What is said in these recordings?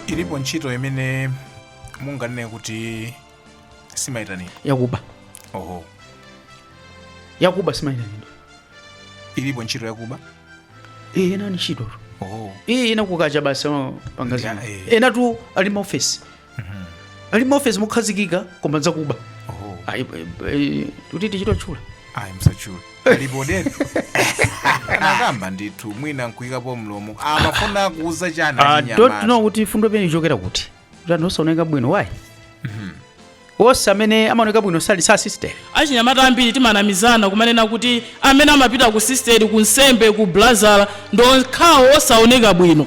ilipo ntchito imene munganene kuti simayitanidwa yakuba oho yakuba simayitanidwa ilipo ntchito yakuba eh ena ni ntchito tu oho eh ena kukacha basi amapanga zina Yeah, eh. ena tu ali maofesi ali maofesi mokhazikika koma nzakuba oh. Ayi, eh, eh, kuti tichite tchula ayi msachule alibodeni anakamba ndithu mwina nkuyikapo mlomo amafuna kuuza chani I don't know achinyamata kuti fundo imene ichokera kuti kuti osaoneka bwino why onse amene amaoneka bwino sali sister achinyamata ambiri timanamizana kumanena kuti amene amapita ku sisteri ku nsembe ku blazala ndi okhawo osaoneka bwino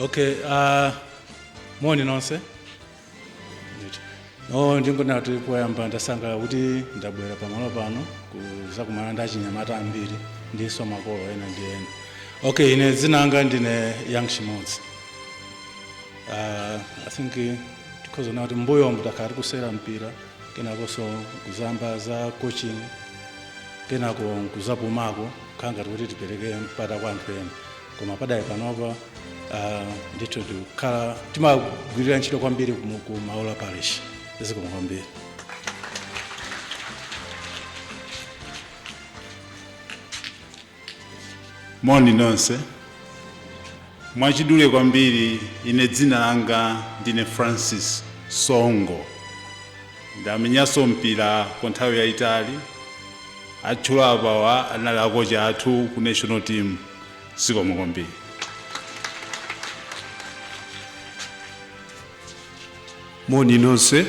okay uh, moni nonse ndingonena kuti poyamba ndasangalala kuti ndabwera pamalo pano kuzakumana ndi achinyamata ambiri ndinso makolo ena ndi ena okay ine dzina langa ndine young chimodzi uh, i think tikhoza kuti mbuyomu takhala tikusewera mpira kenakonso kuzayamba za coaching kenako nkuzapumako kukhala ngati kuti tipereke mpata kwa anthu ena koma pakadali panopa uh, ndithu tikukhala timagwirira ntchito kwambiri ku- ku maula parish zikomo kwambiri Moni nonse. Mwachidule kwambiri, ine dzina langa ndine Francis Songo. Ndamenyanso mpira kwa nthawi yayitali. Atchula apawa anali akocha athu ku national team zikomo kwambiri. moni nonse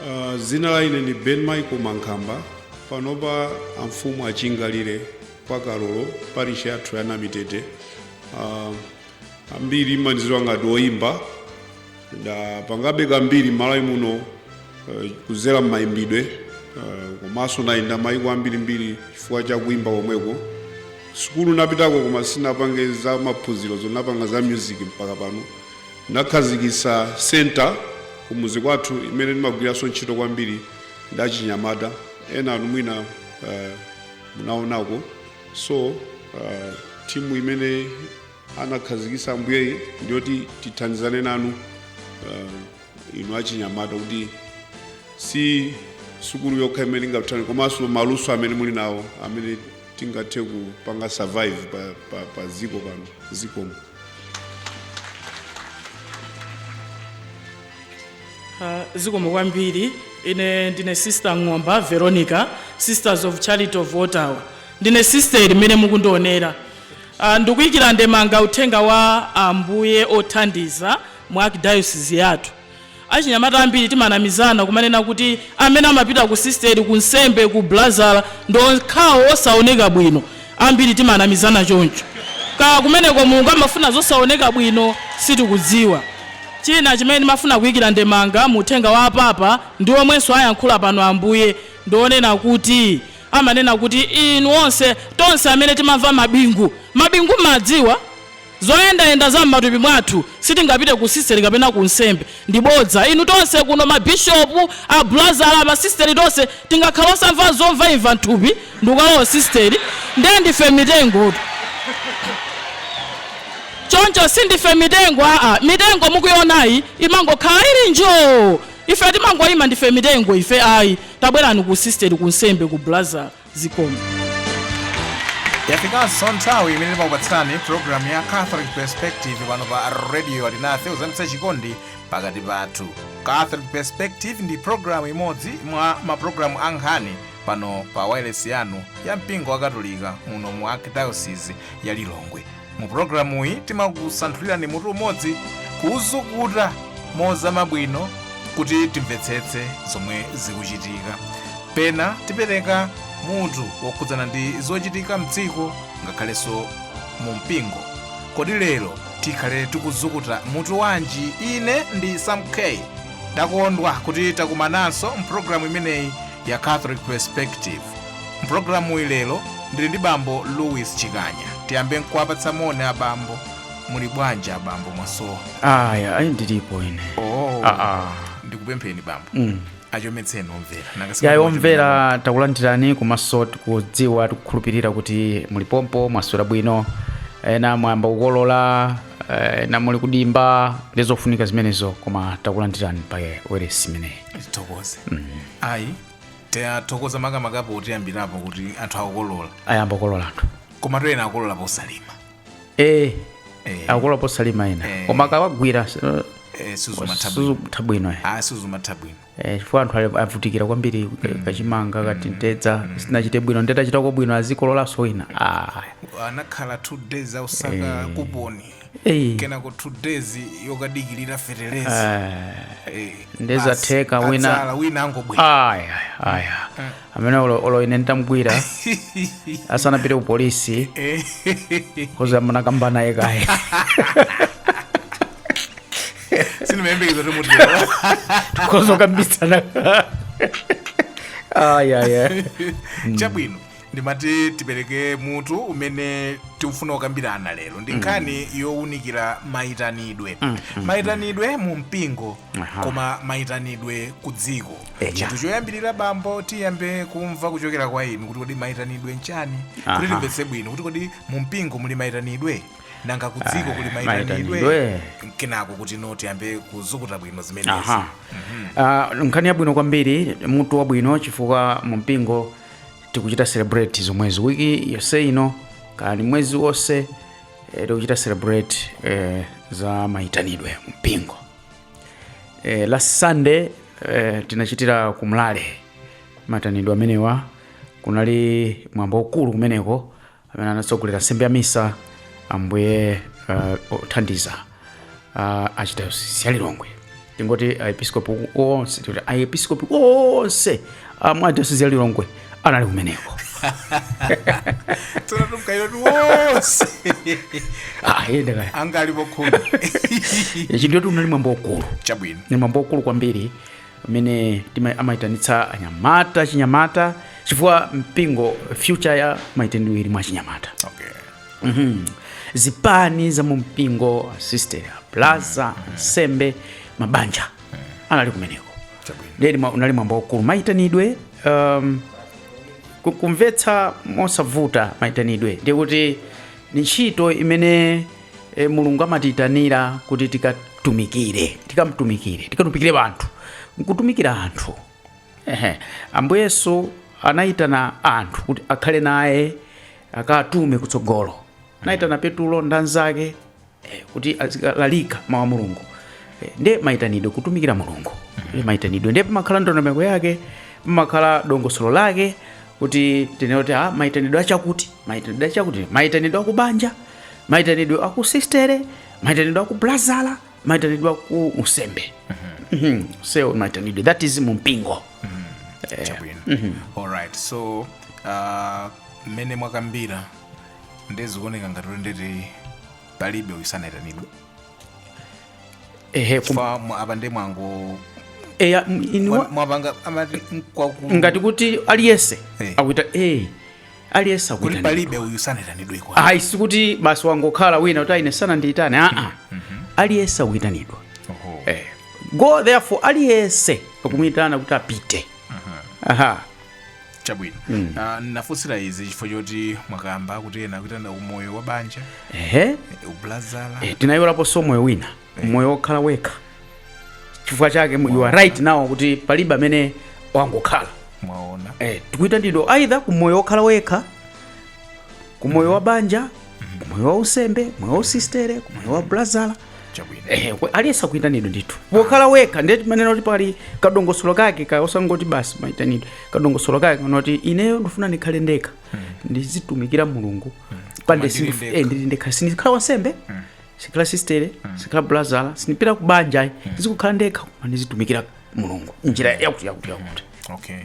uh, zina la ine ni ben michael mankhamba panopa amfumu achingalire kwa kalolo parishi yathu ya namitete uh, ambiri mumaniziwa ngati oyimba ndapangabe kambiri malawi muno uh, kuzera mmayimbidwe uh, komanso nayenda mayiko ambirimbiri chifukwa cha kuimba komweko sukulu napitako koma sinapange za maphunziro zoti napanga za music mpaka pano Anakhazikitsa centre kumudzi kwathu imene ndimagwiranso ntchito kwambiri ndi achinyamata, enanu mwina uh, munaonako so uh, timu imene anakhazikitsa ambuyeyi ndiyoti tithandizane nanu uh, inu achinyamata kuti si sukulu yokha imene ingatani komanso maluso amene muli nawo amene tingathe kupanga survive pa, pa, pa ziko pano zikomo zikomo kwambiri ine ndine sister mng'omba veronica sisters of charity of ottawa ndine sister imene mukundionera Ah, ndikuyikira ndemanga uthenga wa ambuye othandiza mu archdiocese yathu Achinyamata ambiri timanamizana kumanena kuti amene amapita ku sisteri, ku nsembe, ku blazala ndi okhawo osaoneka bwino. Ambiri timanamizana choncho. Kaya kumeneko Mulungu amafuna zosaoneka bwino sitikudziwa. China chimene ndimafuna kuikira ndemanga mu uthenga wa a Papa ndi omwenso ayankhula pano Ambuye ndionena kuti amanena kuti inu onse, tonse amene timamva mabingu. Mabingu m'madziwa? Zoyendayenda za m'matupi mwathu, sitingapite ku sisteri kapena ku unsembe. Ndi bodza. Inu tonse kuno, ma bishopu, a bulazala, ma sisteri, tonse tingakhale osamva zomvaimva m'thupi ndikukalowa usisteri, ndiye ndife mitengo. Choncho sindife mitengo, aa, mitengo mukuionayi imangokhala ili njoo! Ife timangoima, ndife mitengo ife, ayi, tabwerani ku usisteri, ku unsembe, ku bulazala. Zikomo. Yafikanso nthawi imene timakupatsirani programu ya Catholic Perspective pano pa Radio Alinafe kuzamitsa chikondi pakati pathu. Catholic Perspective ndi programu imodzi mwa maprogramu a nkhani pano pa wailesi yanu ya mpingo wa Katolika muno mu Archdiocese ya Lilongwe. mu pulogalamuyi timakusanthulirani mutu umodzi kuuzukuta mozama bwino kuti timvetsetse zomwe zikuchitika pena tipereka mutu wokhudzana ndi zochitika mdziko ngakhalenso mu mpingo kodi lero tikhale tikuzukuta mutu wanji ine ndi sam k ndakondwa kuti takumananso mpulogalamu imeneyi ya catholic perspective Mpulogalamuyi lero ndili ndi bambo Louis Chikanya. Tiyambe nkuwapatsa moni abambo. Muli bwanji abambo mwasowa? aya ayi ndilipo ine Oh. Ah, ah. Ndikupempheni bambo. Mm. Achometseni omvera. Nanga siku- yayi omvera takulandirani komanso tikudziwa tikukhulupirira kuti muli pompo mwaswera bwino ena mwayamba kukolola eh, ena muli kudimba ndi zofunika zimenezo koma takulandirani pa weresi imeneyi Tithokoze. Ayi Tathokoza makamaka potiyambirapo kuti anthu akukolola. ayamba kukolola anthu Komatu ena akukolola posalima. eh Eh. akukolola posalima ena Eh. koma akawagwira Eh, sizimatha bwino. sizitha bwino eh. Ah, sizimatha bwino. Eh, chifukwa anthu ali- avutikira kwambiri kachimanga katimtedza sinachite bwino nde tachitako bwino azikololanso wina ah. Anakhala two days akusaka kuponi. Ei, kenako two days yokadikirira feteleza eh, Eh, nde zatheka basi, wina- adzala, wina angobwera aya aya amene olo olo ine nditamgwira asanapite ku polisi Eh, nkoza munakamba naye kaye sindimayembekeza kuti mutero nkoza kukambitsana aya aya chabwino ndimati tipereke mutu umene tikufuna kukambirana lero ndi nkhani yowunikira mayitanidwe mayitanidwe mu mpingo Aha. koma mayitanidwe ku dziko Eya. chinthu choyambirira bambo tiyambe kumva kuchokera kwa inu kuti kodi mayitanidwe nchani kuti Aha. timvetse bwino kuti kodi mu mpingo muli mayitanidwe nanga ku dziko kuli mayitanidwe mayitanidwe. kenako kuti ino tiyambe kuzukuta bwino zimenezi aha Ah, nkhani yabwino kwambiri mutu wabwino chifukwa mu mpingo tikuchita celebrate zomwezi wiki yonse ino kani mwezi wonse eh, tikuchita celebrate eh, za mayitanidwe mu mpingo eh, last sunday eh, tinachitira ku mlale mayitanidwe amenewa kunali mwambo ukulu kumeneko amene anatsogolera nsembe ya misa ambuye uh, othandiza uh, a archdiocese ya lilongwe tingoti aepiskopi onse tikuti aepiskopi onse a mu dayosisi ya lilongwe anali kumeneko tsono tumkairo tiwonse Ah, iye ndakaya anga alipo khumi ichi ndiyetu unali mwambo ukulu chabwino ni mwambo ukulu kwambiri amene tima- amayitanitsa anyamata achinyamata chifukwa mpingo future ya mayitanidwe ili mwa achinyamata okay. Mhm. zipani za mu mpingo asiste abraza ansembe mabanja anali kumeneko Chabwino. ndeni mwa- unali mwambo waukulu mayitanidwe um, ku- kumvetsa mosavuta mayitanidwe ndiye kuti ni ntchito imene e, mulungu amatiitanira kuti tikatumikire tikamtumikire tikatumikire anthu nkutumikira anthu ehe ambuye yesu anayitana anthu kuti akhale naye akatume kutsogolo anayitana petulo ndi anzake eh, kuti azilalika mawu a mulungu Eh, nde mayitanidwe kutumikira mulungu ndi mayitanidwe nde pamakhala ndondomeko yake pamakhala dongosolo lake kuti tinene kuti ah, mayitanidwe achakuti mayitanidwe achakuti mayitanidwe akubanja maitanidwe aku sistere maitanidwe aku blazala maitanidwe aku usembe Mhm. seo maitanidwe that is mumpingo chabwino alright so uh, mmene mwakambira nde zikuoneka ngati kuti ndeti palibe wosaitanidwa ehe kum- fa mwa- apa ndi mwango eya, m- iniwa- mwa- mwapanga amati nkwaku ngati kuti aliyense Eh. akuitanidwa eh, aliyense kuti akuitana palibe uyu sanaitanidweko ayi sikuti basi wangokhala wina kuti aine sanandiyitane aa aliyense akuyitanidwa Oho. eh. go therefore aliyense akumuyitana kuti apite aha chabwino Ah, nafunsira izi chifukwa choti mwakamba kuti ena akuyitanidwa umoyo wa banja ehe ubulazala eh, tinayiwalaponso umoyo wina moyo wokhala wekha chifukwa chake mu- you are right now kuti palibe amene wangokhala mwaona eh, tikuitanidwa either ku moyo wokhala wekha ku moyo wa banja ku moyo wa usembe ku moyo wa usistere ku moyo wa brazala chabwino Eh, we- aliyense akuitanidwa ndithu wokhala wekha ndiye timanena kuti pali kadongosolo kake ka osangoti basi maitanidwe kadongosolo kake konena kuti ineyo ndifuna ndikhale ndekha ndizitumikira mulungu pamene ndili sindif- ndekha. eh, ndili ndekha sindikhala wansembe sindikhala sistere sindikhala blazala sindipita ku banja ayi ndizikhala ndekha koma ndizitumikira mulungu njira yakuti yakuti yakuti okay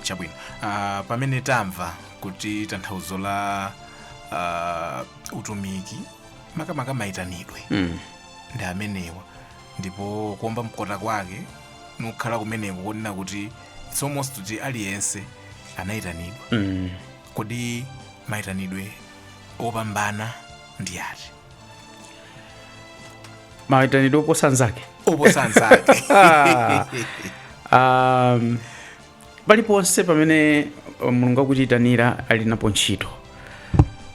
chabwino Ah, pamene tamva kuti tanthauzo la ah, utumiki makamaka mayitanidwe ndi amenewa ndipo kuomba mkota kwake nkukhala kumeneko konena kuti it's almost kuti aliyense anayitanidwa kodi mayitanidwe opambana ndi ati mayitanidwe oposa nzake oposa nzake um, paliponse pamene mulungu akutiyitanira ali napo ntchito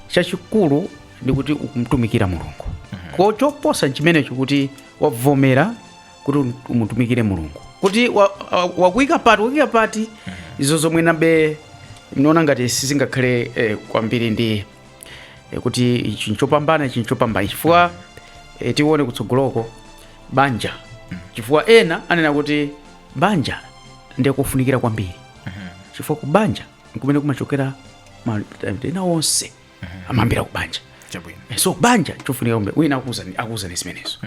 chachikulu ndi kuti ukumtumikira mulungu ko choposa nchimenecho kuti wavomera kuti um- umutumikire mulungu kuti wa- wa- wakuika pati wakuika pati izo zomwe nanenabe ndinaona ngati sizingakhale eh, kwambiri ndi e, kuti ichi nchopambana ichi nchopambana chifukwa e, tiona kutsogoloko banja chifukwa ena anena kuti banja ndiye kofunikira kwambiri chifukwa ku banja nkumene kumachokera ma- ena onse amayambira ku banja Chabwino. so banja chofunika kwambiri wina akuwuzani akuwuzani zimenezo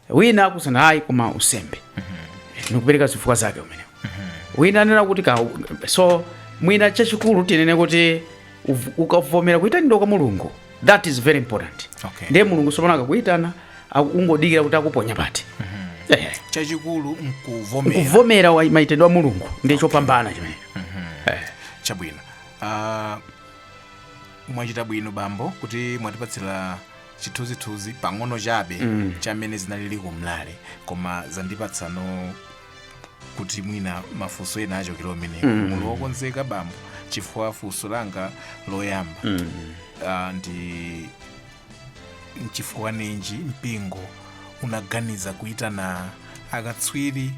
wina akuti ayi koma unsembe nikupereka zifukwa zake umenewo wina anena kuti ka so mwina chachikulu tinene kuti uv- ukavomera kuyitanidwa kwa mulungu that is very important Okay. ndiye mulungu sopano akakuyitana aku- ungodikira kuti akuponya pati Eh, chachikulu nkuvomera kuvomera wa- mayitanidwe a mulungu ndiye chopambana chimene chabwino Ah, mwachita bwino bambo kuti mwatipatsira chithunzithunzi pang'ono chabe Mm. cha mmene zinalili ku mlale koma zandipatsano kuti mwina mafunso ena ochokera kumeneko Mm. muli wokonzeka bambo chifukwa funso langa loyamba Mm. ah, ndi nchifukwa ninji mpingo unaganiza kuitana akatswiri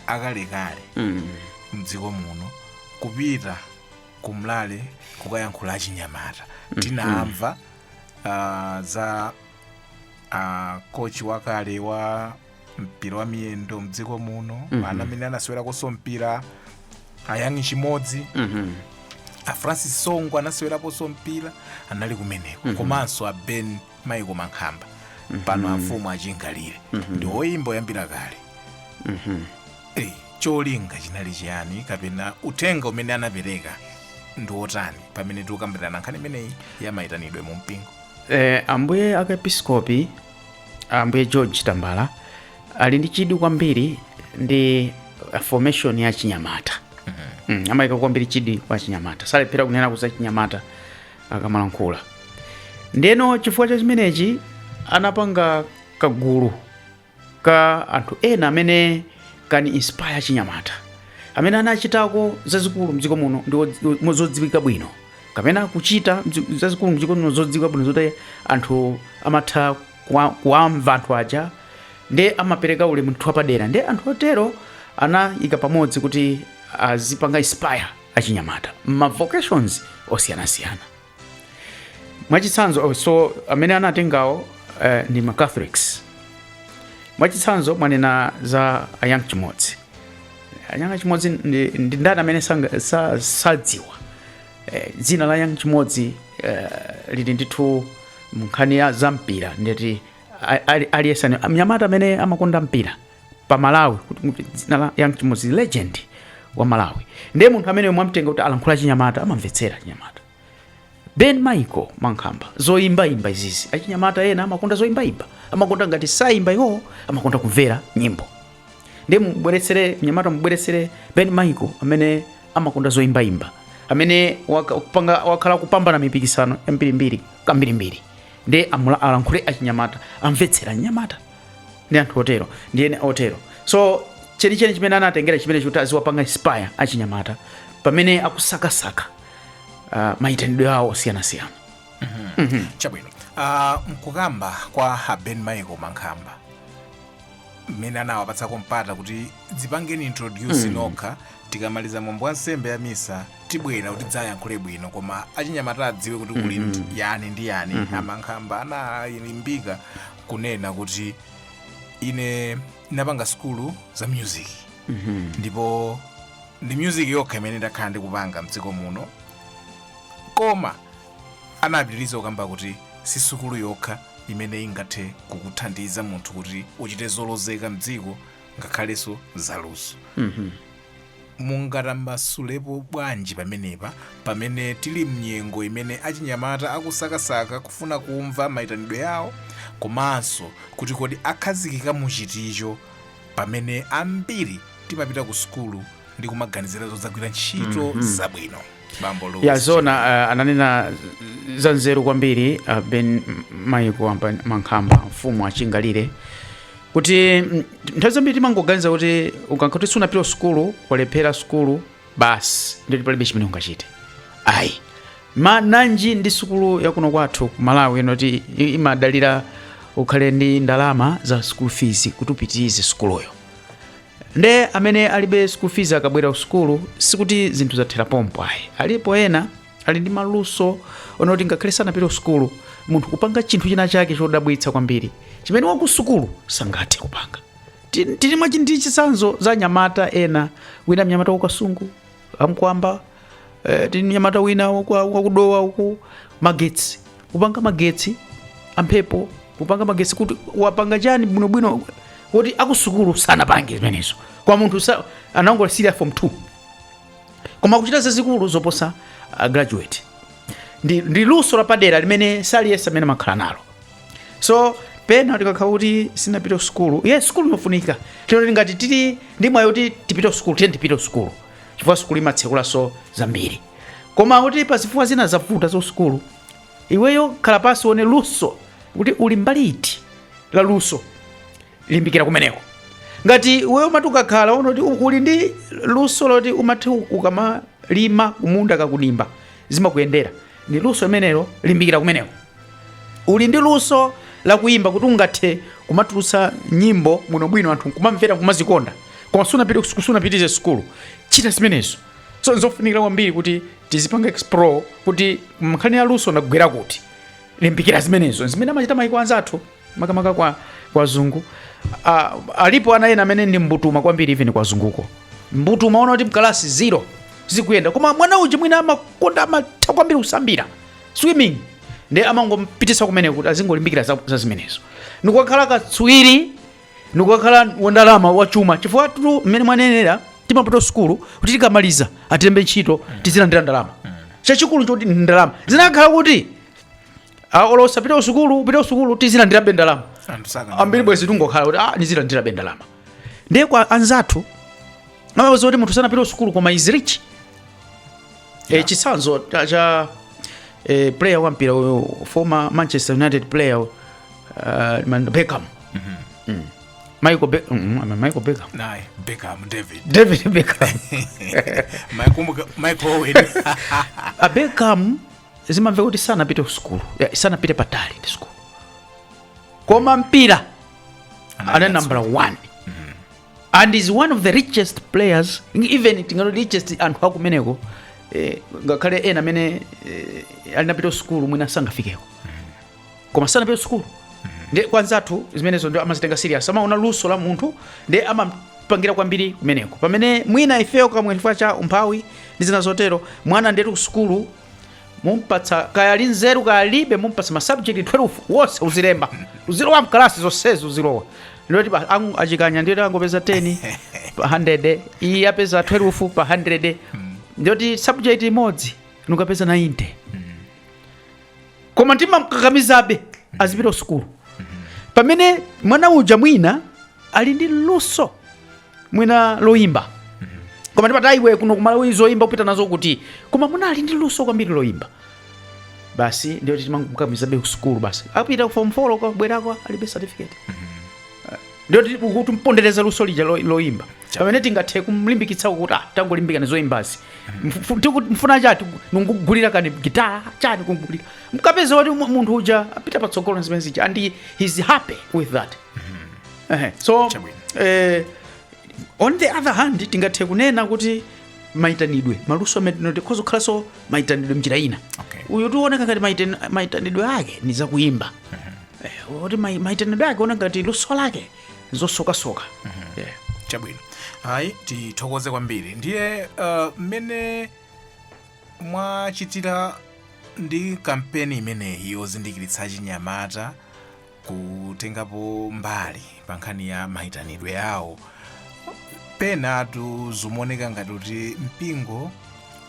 akalekale Mm. mdziko muno kupita kumlale kukayankhula achinyamata tinamva uh, za uh, kochi wakale wa mpira wa miyendo mdziko muno mm -hmm. yemwe amene anasewerakonso mpira a Young Chimodzi mm -hmm. a francis songo anaseweraponso mpira anali kumeneko mm -hmm. komanso a ben michael mankhamba mm -hmm. pano amfumu a Chingalire mm -hmm. ndi oyimba oyambira kale mm -hmm. hey. cholinga chinali chiyani kapena uthenga umene anapereka ndi wotani pamene tikukambirana nkhani imeneyi ya mayitanidwe mu mpingo eh, ambuye arkiepiskopi ambuye george tambala ali ndi chidwi kwambiri ndi formation ya achinyamata mm, amayika kwambiri chidwi kwa achinyamata salephera kunena za achinyamata akamalankhula ndeno chifukwa cha chimenechi anapanga kagulu ka anthu ena amene can inspire achinyamata amene anachitako zazikulu mdziko muno ndi odzi- ndi- mo- zodziwika bwino kapena kuchita mdzi- zazikulu mdziko muno zodziwika bwino zoti anthu amatha kuwa- kuwamva anthu aja nde amapereka ulemu ndithu wapadera nde anthu otero anayika pamodzi kuti azipanga inspire achinyamata m'ma vocations osiyanasiyana mwachitsanzo oh, so amene anatengawo eh, ndi ma catholics mwachitsanzo mwanena za a young chimodzi a young chimodzi ndi ndi ndani amene sanga- sa- sadziwa eh, dzina la young chimodzi eh, lili ndithu mnkhani ya za mpira ndeti a- ali- aliyense ane- mnyamata amene amakonda mpira pa malawi kuti kuti dzina la young chimodzi legend wa malawi ndiye munthu amene mwamtenga kuti alankhule achinyamata amamvetsera achinyamata ben michael mankhamba zoyimbayimba izizi achinyamata ena amakonda zoyimbayimba amakonda ngati sayimba iwowo amakonda kumvera nyimbo ndiye mubweretsere mnyamata mubweretsere ben michael amene amakonda zoyimbayimba amene waka- kupanga- wakhala akupambana mipikisano yambirimbiri kambirimbiri ndiye amula- alankhule achinyamata amvetsera anyamata ndi anthu otero ndi ena otero so chenicheni chimene anatengera chimene chikuti aziwapanga inspire achinyamata pamene akusakasaka uh, mayitanidwe awo osiyanasiyana chabwino Ah, mkukamba kwa a Ben Michael Mankhamba mmene anawapatsako mpata kuti dzipangeni introduce nokha tikamaliza mwambo wa nsembe ya misa tibwera kuti tidzayankhule bwino koma achinyamata adziwe kuti kuli yani ndi yani a Mankhamba analimbika kunena kuti ine ndinapanga sukulu za music ndipo ndi music yokha imene ndakhala ndikupanga mdziko muno koma anapitiriza kukamba kuti si sukulu yokha imene ingathe kukuthandiza munthu kuti uchite zolozeka mdziko ngakhalenso zaluso Mungatambasulepo bwanji pamenepa pamene tili m'nyengo imene achinyamata akusakasaka kufuna kumva maitanidwe awo komanso kuti kodi akhazikika mu chiticho pamene ambiri timapita ku sukulu ndi kumaganizira zodzagwira ntchito zabwino? bambo Louis. ya zona uh, ananena za nzeru kwambiri uh, Ben Michael Mankhamba mfumu achingalire kuti mm, nthawi zambiri timangoganiza kuti ukakhala kuti sunapita sukulu walephera sukulu basi ndiye kuti palibe chimene ungachite ayi nanji ndi sukulu yakuno kwathu ku malawi ndi yoti i- imadalira ukhale ndi ndalama za school fees kuti upitirize sukuluyo Nde amene alibe school fees akabwera ku sukulu sikuti zinthu zathera pompo ayi. Alipo ena ali ndi maluso onena kuti ngakhale sanapite ku sukulu munthu kupanga chinthu china chake chodabwitsa kwambiri chimene wa ku sukulu sangathe kupanga. Ti- Tili mwachitsanzo za anyamata ena wina mnyamata wa ku Kasungu a Kamkwamba eh, tili ndi mnyamata wina waku- wa ku Dowa uku magetsi kupanga magetsi amphepo kupanga magetsi kuti wapanga chani bwinobwino woti akusukulu sanapange zimenezo koma munthu sa- anangolekezera form 2 koma kuchita zazikulu zoposa uh, graduate ndi, ndi luso lapadera limene si aliyense amene amakhala nalo so pena tikakhala kuti sunapite ku sukulu ye sukulu ndi yofunika ndipo ngati tili ndi mwayi kuti tipite ku sukulu tiyeni tipite ku sukulu chifukwa sukulu imatsekulanso zambiri koma kuti pa zifukwa zina zavuta za sukulu iweyo khala pansi uone luso kuti uli mbali iti la luso limbikira kumeneko ngati iweyo umati ukakhala uona kuti uli ndi luso loti umati ukamalima kumunda kaya kudimba zimakuyendera ndi luso limenelo limbikira kumeneko uli ndi luso lakuyimba kuti ungathe kumatulutsa nyimbo bwinobwino anthu nkumamvera kumazikonda koma sunapite- sunapitirize sukulu chita zimenezo so nzofunikira kwambiri kuti tizipanga explore kuti mnkhani ya luso ndagwera kuti limbikira zimenezo zimene amachita maiko anzathu makamaka kwa azungu ah, alipo ana ena amene ndi mbutuma kwambiri even kwa azunguko mbutuma ona kuti mkalasi zero zikuyenda koma mwana uja mwina amakonda amatha kwambiri kusambira swimming ndiye amangompititsa kumene kuti azingolimbikira za, za zimenezo ndikukhala katswiri ndikukhala wandalama wachuma chifukwatu mmene mwanenera timapita sukulu kuti tikamaliza atilembe ntchito tizilandira ndalama chachikulu n'choti ndalama zinakhala kuti olo usapite kusukulu upite kusukulu tizilandirabe ndalama Anthu sakana. ambiri bwezi tungokhala kuti ah, ndizilandirabe ndalama ndiye kwa anzathu amawauza kuti munthu sanapite kusukulu koma is rich eh, chitsanzo cha- cha eh, player wa mpira uyu former manchester united player uh, man- beckham Mm. michael, Be- mm, I mean, michael beckham Naye, Beckham, David. david beckham Michael Muga- Michael Owen. a beckham zimamveka kuti sanapite kusukulu eh, sanapite patali ndi sukulu koma mpira anali nambala 1 and is one of the richest players even tingati richest anthu akumeneko eh, ngakhale ena amene eh, anapita sukulu mwina sangafikeko koma sanapite sukulu ndiye kwa anzathu zimenezo ndiye amazitenga serious amaona luso la munthu ndiye amapangira kwambiri kumeneko pamene mwina ifeyo kapena chifukwa cha umphawi ndi zina zotero mwana ndetu ku sukulu mumpatsa kaya ali ndi nzeru kaya alibe mumpatsa ma subject 12 onse uzilemba uzilowa mkalasi zonsezi uzilowa ndiye kuti pa- ang- achikanya ndiye kuti angopeza 10 pa 100 iyi apeza 12 pa 100 ndiye kuti subject imodzi nukapeza 90 koma timamkakamizabe azipita kusukulu pamene mwana uja mwina ali ndi luso mwina loyimba koma ndiye pali iwe kuno ku Malawi zoyimba kupita nazo kuti koma mwana ali ndi luso kwambiri loyimba basi ndiye kuti timamkakamizabe kusukulu basi apita ku form 4 kukabwerako alibe certificate ndiye timpondereza luso lija lo- loyimba pamene tingathe kumlimbikitsa kuti ah, tangolimbikani zoyimbazi Mfu- tiku- mufuna chani ndikugulireni gitara chani kugulira mukapeza kuti mu- munthu uja apita patsogolo ndi zimene zija and he- he's happy with that Ehe, so Chabwino. eh, on the other hand tingathe kunena kuti maitanidwe maluso amene atha kukhalanso maitanidwe mnjira ina Okay. uyu zikuwoneka ngati maiten- maitanidwe ake ni zakuyimba Eh, kuti mai- maitanidwe ake ona ngati luso lake zosokasoka Eh. chabwino ayi tithokoze kwambiri ndiye uh, mmene mwachitira ndi kampeni imeneyi yozindikiritsa achinyamata kutengapo mbali pa nkhani ya mayitanidwe awo penatu zikuoneka ngati kuti mpingo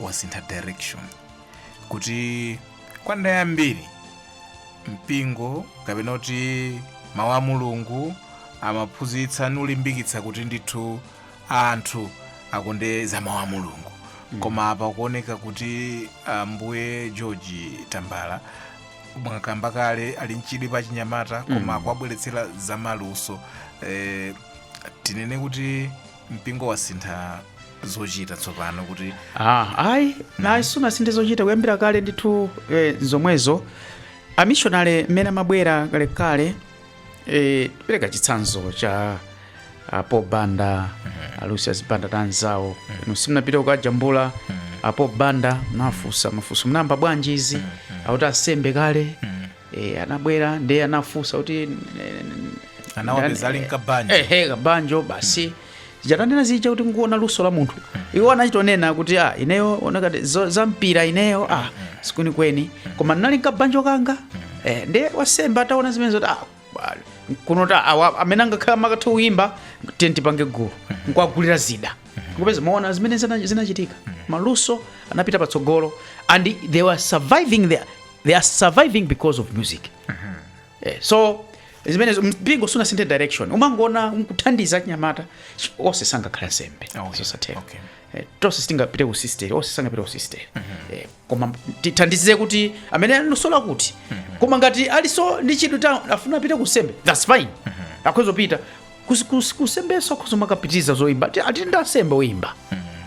wasintha direction kuti kwa nthawi yambiri mpingo kapena kuti mawu a mulungu amaphunzitsa nulimbikitsa kuti ndithu anthu akonde za mawu a mulungu koma apa kuoneka kuti ambuye george tambala mwakamba kale ali mchidwi pa chinyamata koma kuwabweretsera zamaluso eh, tinene kuti mpingo wasintha zochita tsopano kuti ah, ayi iyayi sunasinthe zochita kuyambira kale ndithu eh, zomwezo amishonale mmene amabwera kalekale eh, ndipereka chitsanzo cha ah, paul banda ah, lucius banda ndi anzawo inu simunapita kukajambula ah, paul banda munafunsa mafunso munayamba bwanji izi akuti asembe kale e, anabwera nde anafunsa kuti anawapeza ali mkabanjo ehe kabanjo basi zija tanena zija kuti nkuona luso la munthu iwo anachitonena kuti ah, ineyo onekati zo- za mpira ineyo ah, sikwenikweni koma ndinali mkabanjo kanga eh, nde wasembe ataona zimene zoti ah, bali, kuno ta awa amene amakhala amatha kuyimba tiyeni tipange gulu nkuwagulira zida kupeza maona zimene zina- zinachitika maluso anapita patsogolo and they were surviving there they are surviving because of music Eh, so zimenezo mpingo sunasinthe direction umangoona nkuthandiza chinyamata s- onse sangakhale nsembe Okay, zosatheka okay. Eh, tonse sitingapite ku sisteri onse sangapite ku sisteri Eh, koma tithandize kuti amene ali ndi luso lakuti koma ngati aliso ndi chidwi ati afuna apite ku nsembe thats fine akhoza kupita Kus- kus- kusembeso akhoza kumakapitiriza zoimba Ati- ati ndi asembe oimba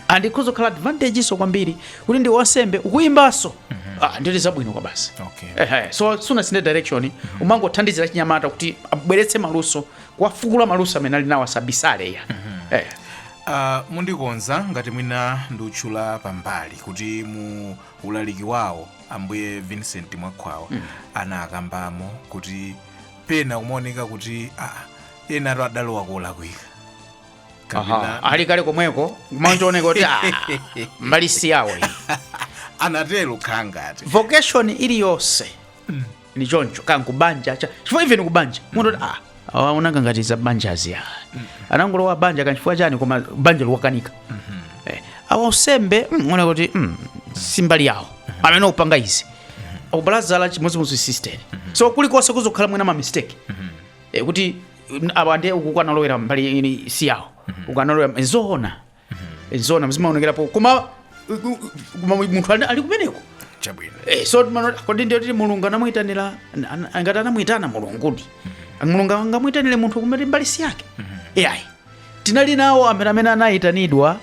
and ikhoza kukhala advantageso kwambiri kuti ndi wasembe ukuimbaso Ah, nditu zabwino kwabasi Okay. Ehe, so sunasinthe direction umangothandizira chinyamata kuti abweretse maluso kuwafukula maluso amene ali nawo asabisale ya Eh. Ah, mundikonza ngati mwina ndiutchula pambali kuti mu ulaliki wawo ambuye vincent mwakhwawa anakambamo kuti pena kumaoneka kuti ah, ena ati adalowa kolakwika Aha, ali kale komweko kumaoneka kuti ah, mbali si yawo iyi. anatero nkhani ngati vocation iliyonse ni choncho kaya kubanja cha chifukwa even kubanja munthu kuti, ah awa uwaona ngati za banjazi anangolowa banja kaya chifukwa chani koma banja likuwakanika Eh, awa usembe mm, unaona kuti mm, si mbali yawo amene akupanga izi akubalazala chimodzimodzi sisteriso kulikonse kuzakhala mwina ma mistake Eh, kuti mm, awa ndiye uku akanalowera mbali ini si yawo uku analowera nzoona nzoona zimaonekerapo koma u- u- koma munthu ali ali kumeneko chabwino Eh, so mano- kodi ndiye kuti mulungu anamuitanira an- an- angati anamuitana mulungudi mulungu angamuitanire munthu kumene mbali si yake iyayi Tinali nawo ambiri amene anayitanidwa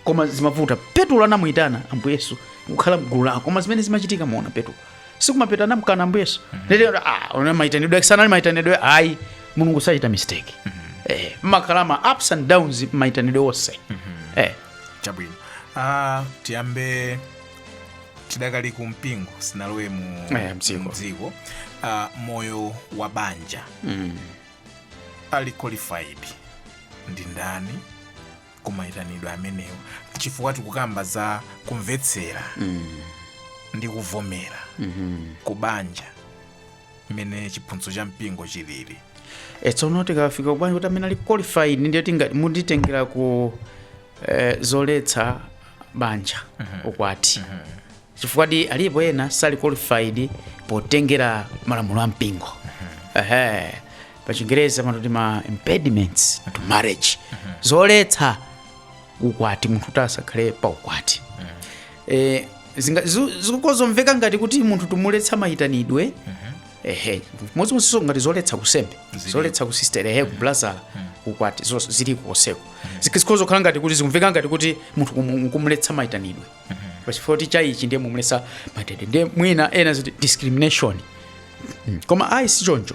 koma zimavuta. Petulo anamuyitana Ambuye Yesu kukhala mgulu lawo koma zimene zimachitika mukuona Petulo. Si kumapeto anamkana Ambuye Yesu. Mm -hmm. Lero ah koma mayitanidwe ake sanali mayitanidwe ayi Mulungu sachita mistake. Mm -hmm. Eh makhala ma ups and downs mayitanidwe onse. Mm -hmm. Eh chabwino. Ah tiyambe tidakali ku mpingo sinalowe mu eh, mdziko. Uh, moyo wa banja. Mm -hmm. ali qualified ndi ndani kumayitanidwa amenewo chifukwa tikukamba za kumvetsera ndi kuvomera kubanja mmene chiphunzitso cha mpingo chilili e tsono tikafika kubanja kuti amene ali qualified ndiye tinga- munditengera ku eh, zoletsa banja ukwati chifukwadi alipo ena sali qualified potengera malamulo a mpingo ehe pachingereza amati ma impediments to marriage zoletsa ukwati munthu kuti asakhale pa ukwati Eh, zinga- zu- zikhoza kumveka ngati kuti munthu tikumuletsa mayitanidwe ehe modzimodzinso ngati zoletsa ku unsembe zoletsa ku usisitere ehe ku ubulazala ukwati zo- zili koseko zikhoza kukhala ngati kuti zikumveka ngati kuti munthu kumu- kumuletsa mayitanidwe pachifukwa kuti cha ichi ndiye mukumuletsa mayitanidwe ndiye mwina ena aziti discrimination Mm. koma ayi si choncho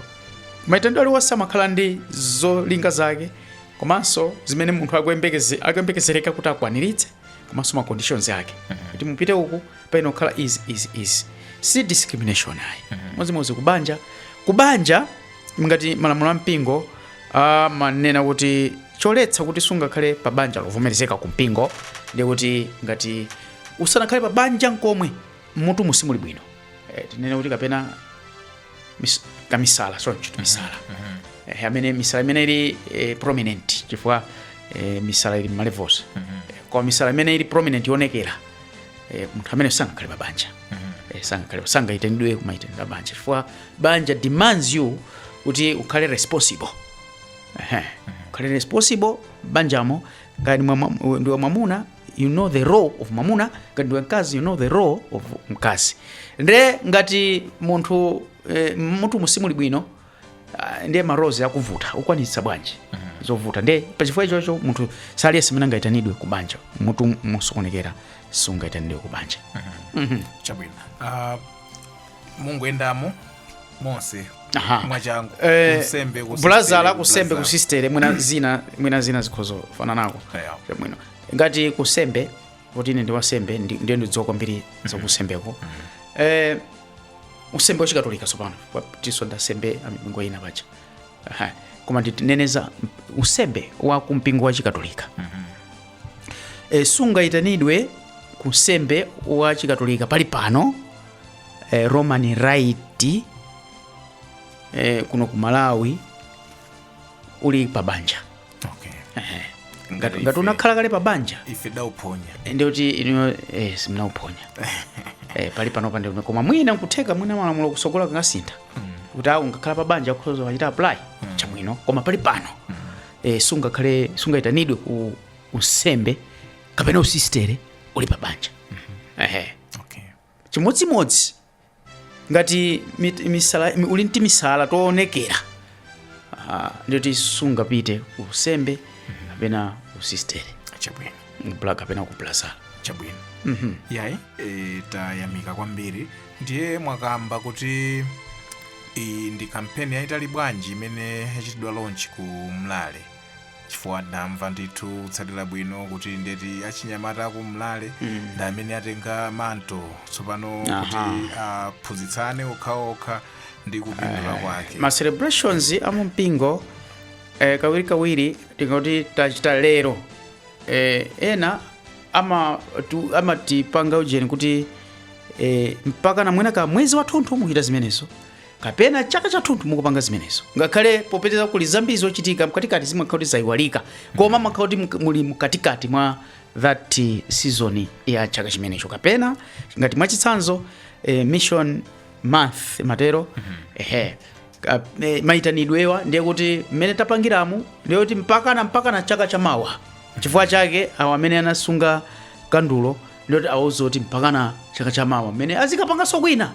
mayitanidwe aliwonse amakhala ndi zolinga zake komanso zimene munthu akuyembekeze- akuyembekezereka kuti akwaniritse komanso ma conditions ake kuti mupite uku payenera kukhala izi izi izi si discrimination ayi modzimodzi kubanja kubanja ngati malamulo a mpingo amanena kuti choletsa kuti sungakhale pa banja lovomerezeka ku mpingo ndi kuti ngati usanakhale pa banja nkomwe mmutu simuli bwino eh, tinene kuti kapena mis, kamisala choncho misala eh, amene misala imene ili eh, prominent chifukwa eh, misala ili mmalevels eh, koma misala imene ili prominent yoonekera eh, munthu amene sangakhale pa banja Eh, sangakhale sangayitanidwe kumayitanidwe a banja chifukwa banja demands you kuti ukhale responsible Ehe. ukhale responsible banjamo ngati mwa- mwa- ndiwe mwamuna you know the role of mwamuna ngati ndiwe mkazi you know the role of mkazi nde ngati munthu eh, mmutu simuli bwino Ah, ndiye ma roles akewo ukwanitsa bwanji zovuta ndiye pachifukwa chimenecho munthu si aliyense amene angaitanidwe ku banja mmutu mosokonekera sungaitanidwe ku banja chabwino Ah, mungoyendamo monse Aha. mwachangu Eh, ku unsembe ku ubulazala usisitere, ku unsembe ubulazala. ku usisitere mwina zina mwina zina zikhoza kufananako Yeah. chabwino ngati ku unsembe kuti ine ndi wansembe ndi- ndiye ndidziwa kwambiri za ku unsembeko eh, unsembe wachikatolika tsopano tiso ndasembe amipingo ina paja Aha. koma nditineneza unsembe wa kumpingo wa chikatolika e, sungayitanidwe ku unsembe wa chikatolika pali pano e, roman rite e, kuno ku malawi uli pabanja okay Ehe. ngati ngati unakhala kale pa banja ife wauphonya ndi kuti inuyo eh, simunauphonya eh, pali panopa ndi kumene. koma mwina nkutheka mwina malamulo kutsogolo angasinthe kuti awo angakhale pa banja akhoza kuchita apply chabwino koma pali pano eh, sungakhale sungayitanidwe ku unsembe kapena usistere uli pa banja Ehe. okay chimodzimodzi ngati mit- misala, mi- uli ndi timisala toonekera ah, ndiyoti sungapite ku unsembe kapena ku usistere chabwino kubla kapena ku ubrazala chabwino yayi e, tayamika kwambiri ndiye mwakamba kuti iyi ndi kampeni yayitali bwanji imene yachitidwa launch ku mlale chifukwa ndamva ndithu kutsatira bwino kuti ndiyeti achinyamata aku mlale Mm. ndi amene atenga manto tsopano Aha. kuti aphunzitsane okhaokha ndi kupindula kwake ma celebrations a mu mpingo eh, kawirikawiri tingoti tachita lero eh, ena ama- tu- amatipanga ujeni kuti eh, mpaka na mwina ka mwezi wathunthu mukuchita zimenezo kapena chaka chathunthu mukupanga zimenezo ngakhale popeza kuli zambiri zochitika mkatikati zimakhala kuti zayiwalika koma mumakhala kuti mk- muli mkatikati mwa that eh, season ya chaka chimenecho kapena ngati mwachitsanzo eh, mission month motero ehe Ka- eh, mayitanidwewa ndiye kuti mmene tapangiramu ndiye kuti mpakana mpakana chaka chamawa chifukwa chake awo amene anasunga kandulo ndiyoti awauze kuti mpakana chaka cha mawa mmene azikapanganso kwina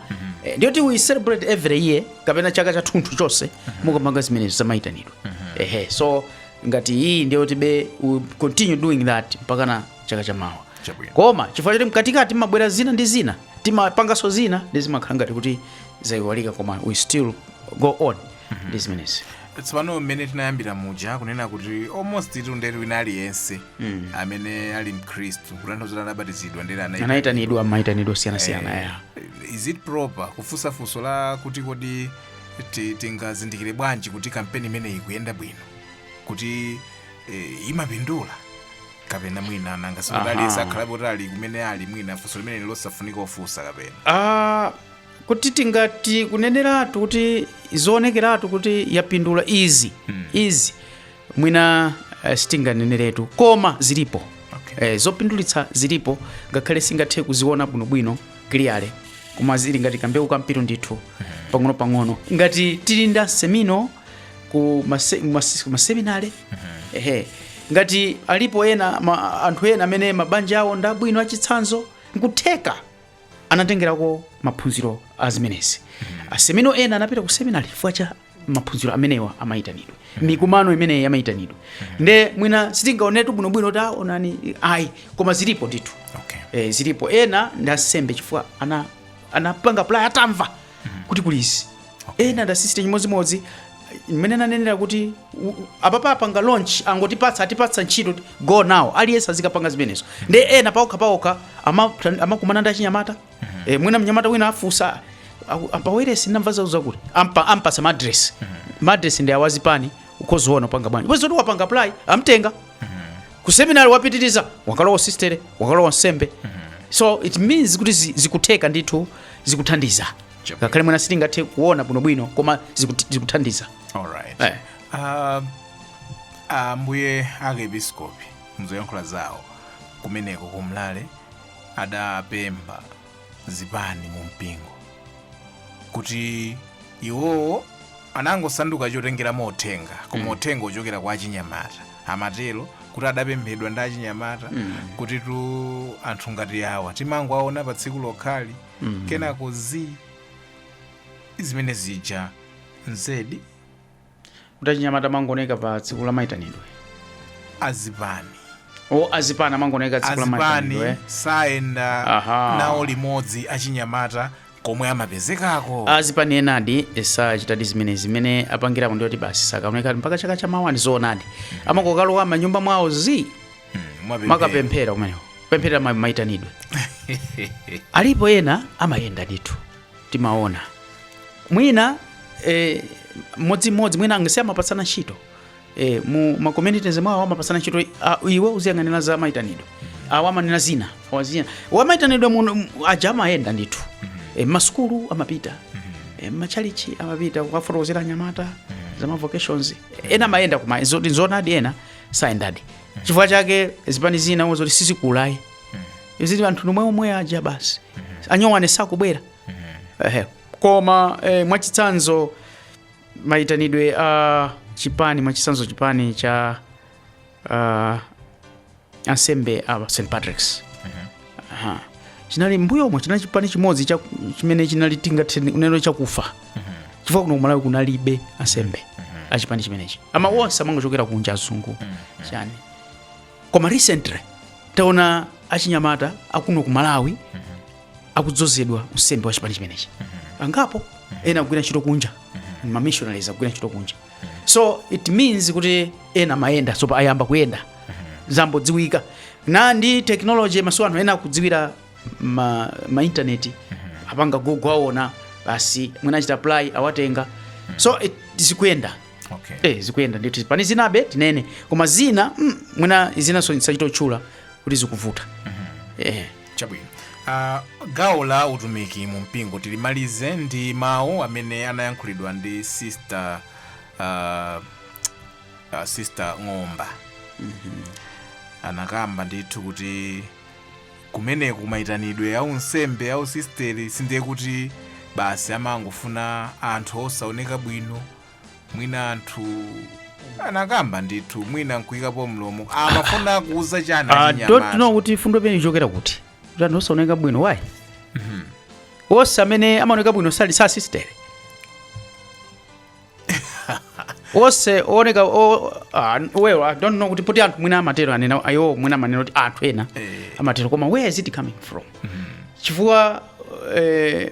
Eh, ndiyoti we celebrate every year kapena chaka chathunthu chonse mukupanga zimenezo zamayitanidwe ehe so ngati iyi ndiyoti be we continue doing that mpakana chaka cha mawa Chabwino. koma chifukwa choti mkatikati mumabwera zina ndi zina timapanganso zina ndi zimakhala ngati kuti zayiwalika koma we still go on ndi zimenezi tsopano mmene tinayambira muja kunena kuti almost tonse ndiye wina aliyense Mm. amene ali mkhristu kutanthauza kuti anabatizidwa ndiye anayi anayitanidwa mayitanidwe osiyanasiyana ya is it proper kufunsa funso la kuti kodi ti- tingazindikire bwanji kuti kampeni imeneyi ikuyenda bwino kuti eh, imapindula kapena mwina nanga sikuti Aha. aliyense akhalapo kuti ali kumene ali mwina funso limeneli losafunika kufunsa kapena Ah, kuti tingati kuneneratu kuti zoonekeratu kuti yapindula izi izi mwina eh, sitinganeneretu koma zilipo Okay. eh, zopindulitsa zilipo ngakhale sitingathe kuziona bwinobwino clearly koma zili ngati kambewu kampiru ndithu pang'onopang'ono ngati tili nda mseminare ku mase- mas- ku maseminare ehe ngati alipo ena ma, anthu ena amene mabanja awo ndabwino achitsanzo nkutheka anatengerako maphunziro a zimenezi a seminare ena anapita ku seminari chifukwa cha maphunziro amenewa amayitanidwe mikumano imeneyi amayitanidwe nde mwina sitingaonetu bwinobwino taonani ayi koma zilipo ndithu Okay. e, zilipo ena ndi ansembe chifukwa ana anapanga apply atamva kuti kuli izi ena ndasisite chimodzimodzi mmene nanenera kuti u- u- apapa apanga launch angotipatsa atipatsa ntchito go now aliyense azikapanga zimenezo ndi ena paokha paokha ama- amakumana ndi achinyamata Eh, mwina mnyamata wina afunsa aku- apawailesi ndamva za, zakuti ampa- ampatsa ma address ma address ndi awazipani ukhoza kuona upanga bwanji bwezi zoti wapanga apply amtenga ku seminary wapitiriza wakalowa usisitere wakalowa unsembe so it means kuti zi- zikutheka ndithu zikuthandiza Chabwino. ngakhale mwina sitingathe kuona bwinobwino koma zikut- zikuthandiza Alright. Eh. Ah, ambuye arkiepiskopi mzoyankhula zawo kumeneko kumlale adapempha zipani mu mpingo kuti iwowo anangosanduka chotengeramo uthenga koma uthenga wochokera kwa achinyamata amatero kuti adapemphedwa ndi achinyamata kutitu anthu ngati awa timangowaona pa tsiku lokhali mm. kenako zi zimene zija nzedi kuti achinyamata amangooneka pa tsiku la maitanidwe azipani o azipani amangooneka tsiku la azipani maitanidwe sayenda Aha. nawo limodzi achinyamata komwe amapezekako azipani enadi sachitadi zimene zimene apangirapo ndiye kuti basi sakaoneka mpaka chaka cha mawa ndi zoonadi amangokalowa m'manyumba mwawo zi Mwapemphera. kumakapemphera kumeneko pemphera ma- maitanidwe alipo ena amayenda ndithu timaona mwina eh, mmodzimmodzi mwina angati amapatsana ntchito eh, mu ma communities mwawo amapatsana ntchito ah, iwe uziyang'anira za maitanidwe awa amanena zina awa zina wamaitanidwe muno m- aja amayenda ndithu eh, m'masukulu amapita eh, m'matchalitchi amapita kukafotokozera anyamata za ma vocations ena amayenda koma zoti nzonadi ena sayendadi chifukwa chake zipani zina umaona zoti sizikukula ayi zili anthu ndi omweomwe aja basi anyuwani sakubwera Ehe. koma eh, mwachitsanzo mayitanidwe a chipani mwachitsanzo chipani cha uh, ansembe a st patricks Aha. chinali m'mbuyomo chinali chipani chimodzi cha- chimene chinali tingathe kunena chakufa chifukwa kuno kumalawi kunalibe ansembe achipani chimenechi ama onse amangochokera kunja azungu chani koma recently taona achinyamata akuno kumalawi akudzozedwa unsembe wa chipani chimenechi angapo ena akugwira ntchito kunja mamishonari akugwira ntchito kunja so it means kuti ena amayenda so ayamba kuyenda zambodziwika na ndi technology masiku ano anthu ena akudziwira ma, ma internet apanga google aona basi mwina achita apply awatenga so it, zikuyenda okay. eh, zikuyenda ndithu pali zinabe tinene koma zina mm, mwina zinaso nsachite kutchula kuti zikuvuta eh. chabwino uh, gawo la utumiki mu mpingo tilimalize ndi mawu amene anayankhulidwa ndi sister uh, uh, sister Ng'omba anakamba ndithu kuti kumeneko kumayitanidwe a unsembe, a usisteri sindiye kuti basi amangofuna anthu osaoneka bwino mwina anthu anakamba ndithu mwina nkuyikapo mlomo amafuna kuuza chani Ah, achinyamata? don't know kuti mfundo imene ichokera kuti kuti anthu osaoneka bwino why onse amene amaoneka bwino sali masisitere onse ooneka o- ah, well i don't know kuti poti anthu mwina amatero anena iwo mwina amanena kuti anthu ena amatero koma where is it coming from chifukwa eh,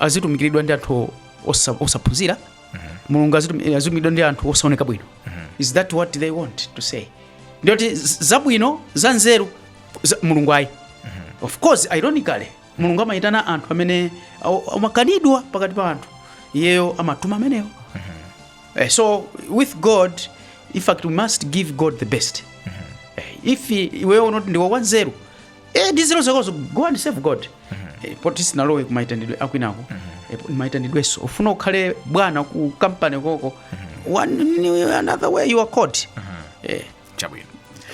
azitumikiridwa ndi anthu osa- osaphunzira mulungu azitum- azitumikiridwa ndi anthu osaoneka bwino is that what they want to say ndiye kuti z- zabwino za nzeru za- mulungu ayi of course ironically mulungu amayitana anthu amene awo- amakanidwa pakati pa anthu iyeyo amatuma amenewo Eh, so with god in fact we must give god the best Eh, if i- iweyo unati ndiwe wanzeru eh ndi nzeru zakozo go and serve god eh, poti sunalowe ku maitanidwe akwinako eh, po- maitanidwenso ufuna ukhale bwana ku kampani koko one ni- another way you are called eh chabwino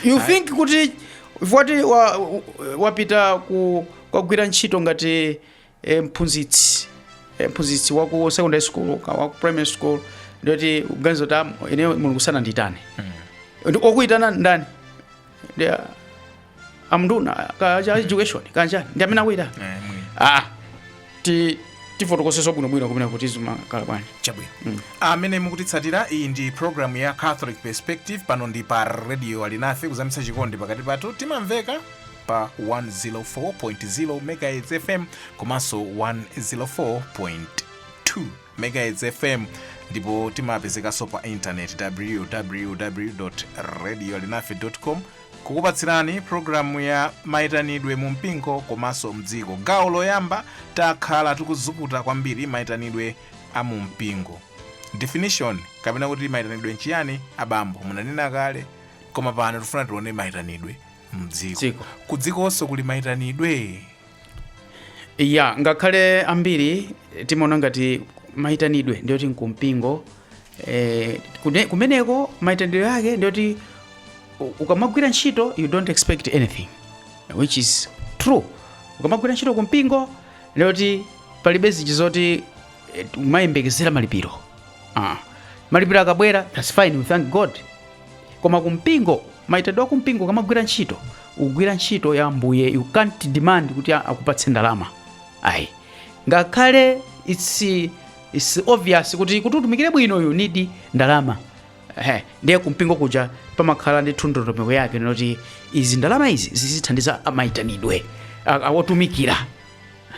you think kuti poti wa- wapita ku kukagwira ntchito ngati e, mphunzitsi e, mphunzitsi wa ku secondary school ka wa ku primary school ndiye uziganiza kuti "Ah, ine mulungu sanandiyitane wakuyitana ndani ndi ah, anduna a za education kapena ndi amene akuyitana Eh, mwini. ah ti tifotokozenso bwinobwino kumene kuti zimakhala bwanji chabwino amene mukutitsatira iyi ndi programu ya catholic perspective pano ndi pa radio alinafe kuzamitsa chikondi pakati pathu timamveka pa 104.0 megahertz fm komanso 104.2 megahertz fm ndipo timapezekanso pa intaneti www radio alinafe com kukupatsirani programu ya mayitanidwe mu mpingo komanso mdziko gawo loyamba takhala tikuzukuta kwambiri mayitanidwe a mu mpingo definition kapena kuti mayitanidwe nchiyani abambo munanena kale koma pano tifuna tione mayitanidwe mdziko Dziko. kudzikonso kuli maitanidwe ya ngakhale ambiri timaona ngati maitanidwe ndiyoti nkumpingo eh, kune- kumeneko maitanidwe yake ndiyoti u- ukamagwira ntchito you don't expect anything which is true ukamagwira ntchito kumpingo ndiyoti palibe zinthu zoti eh, umayembekezera malipiro ah. malipiro akabwera that's fine we thank god koma kumpingo maitanidwe akumpingo ukamagwira ntchito ukugwira ntchito ya Ambuye you can't demand kuti a- akupatse ndalama ayi ngakhale it's, it's obvious kuti kuti utumikire bwino you need ndalama Ehe, ndiye kumpingo kuja pamakhala ndi ndondomeko yake yoti izi ndalama izi zizithandiza maitanidwe a- a- otumikira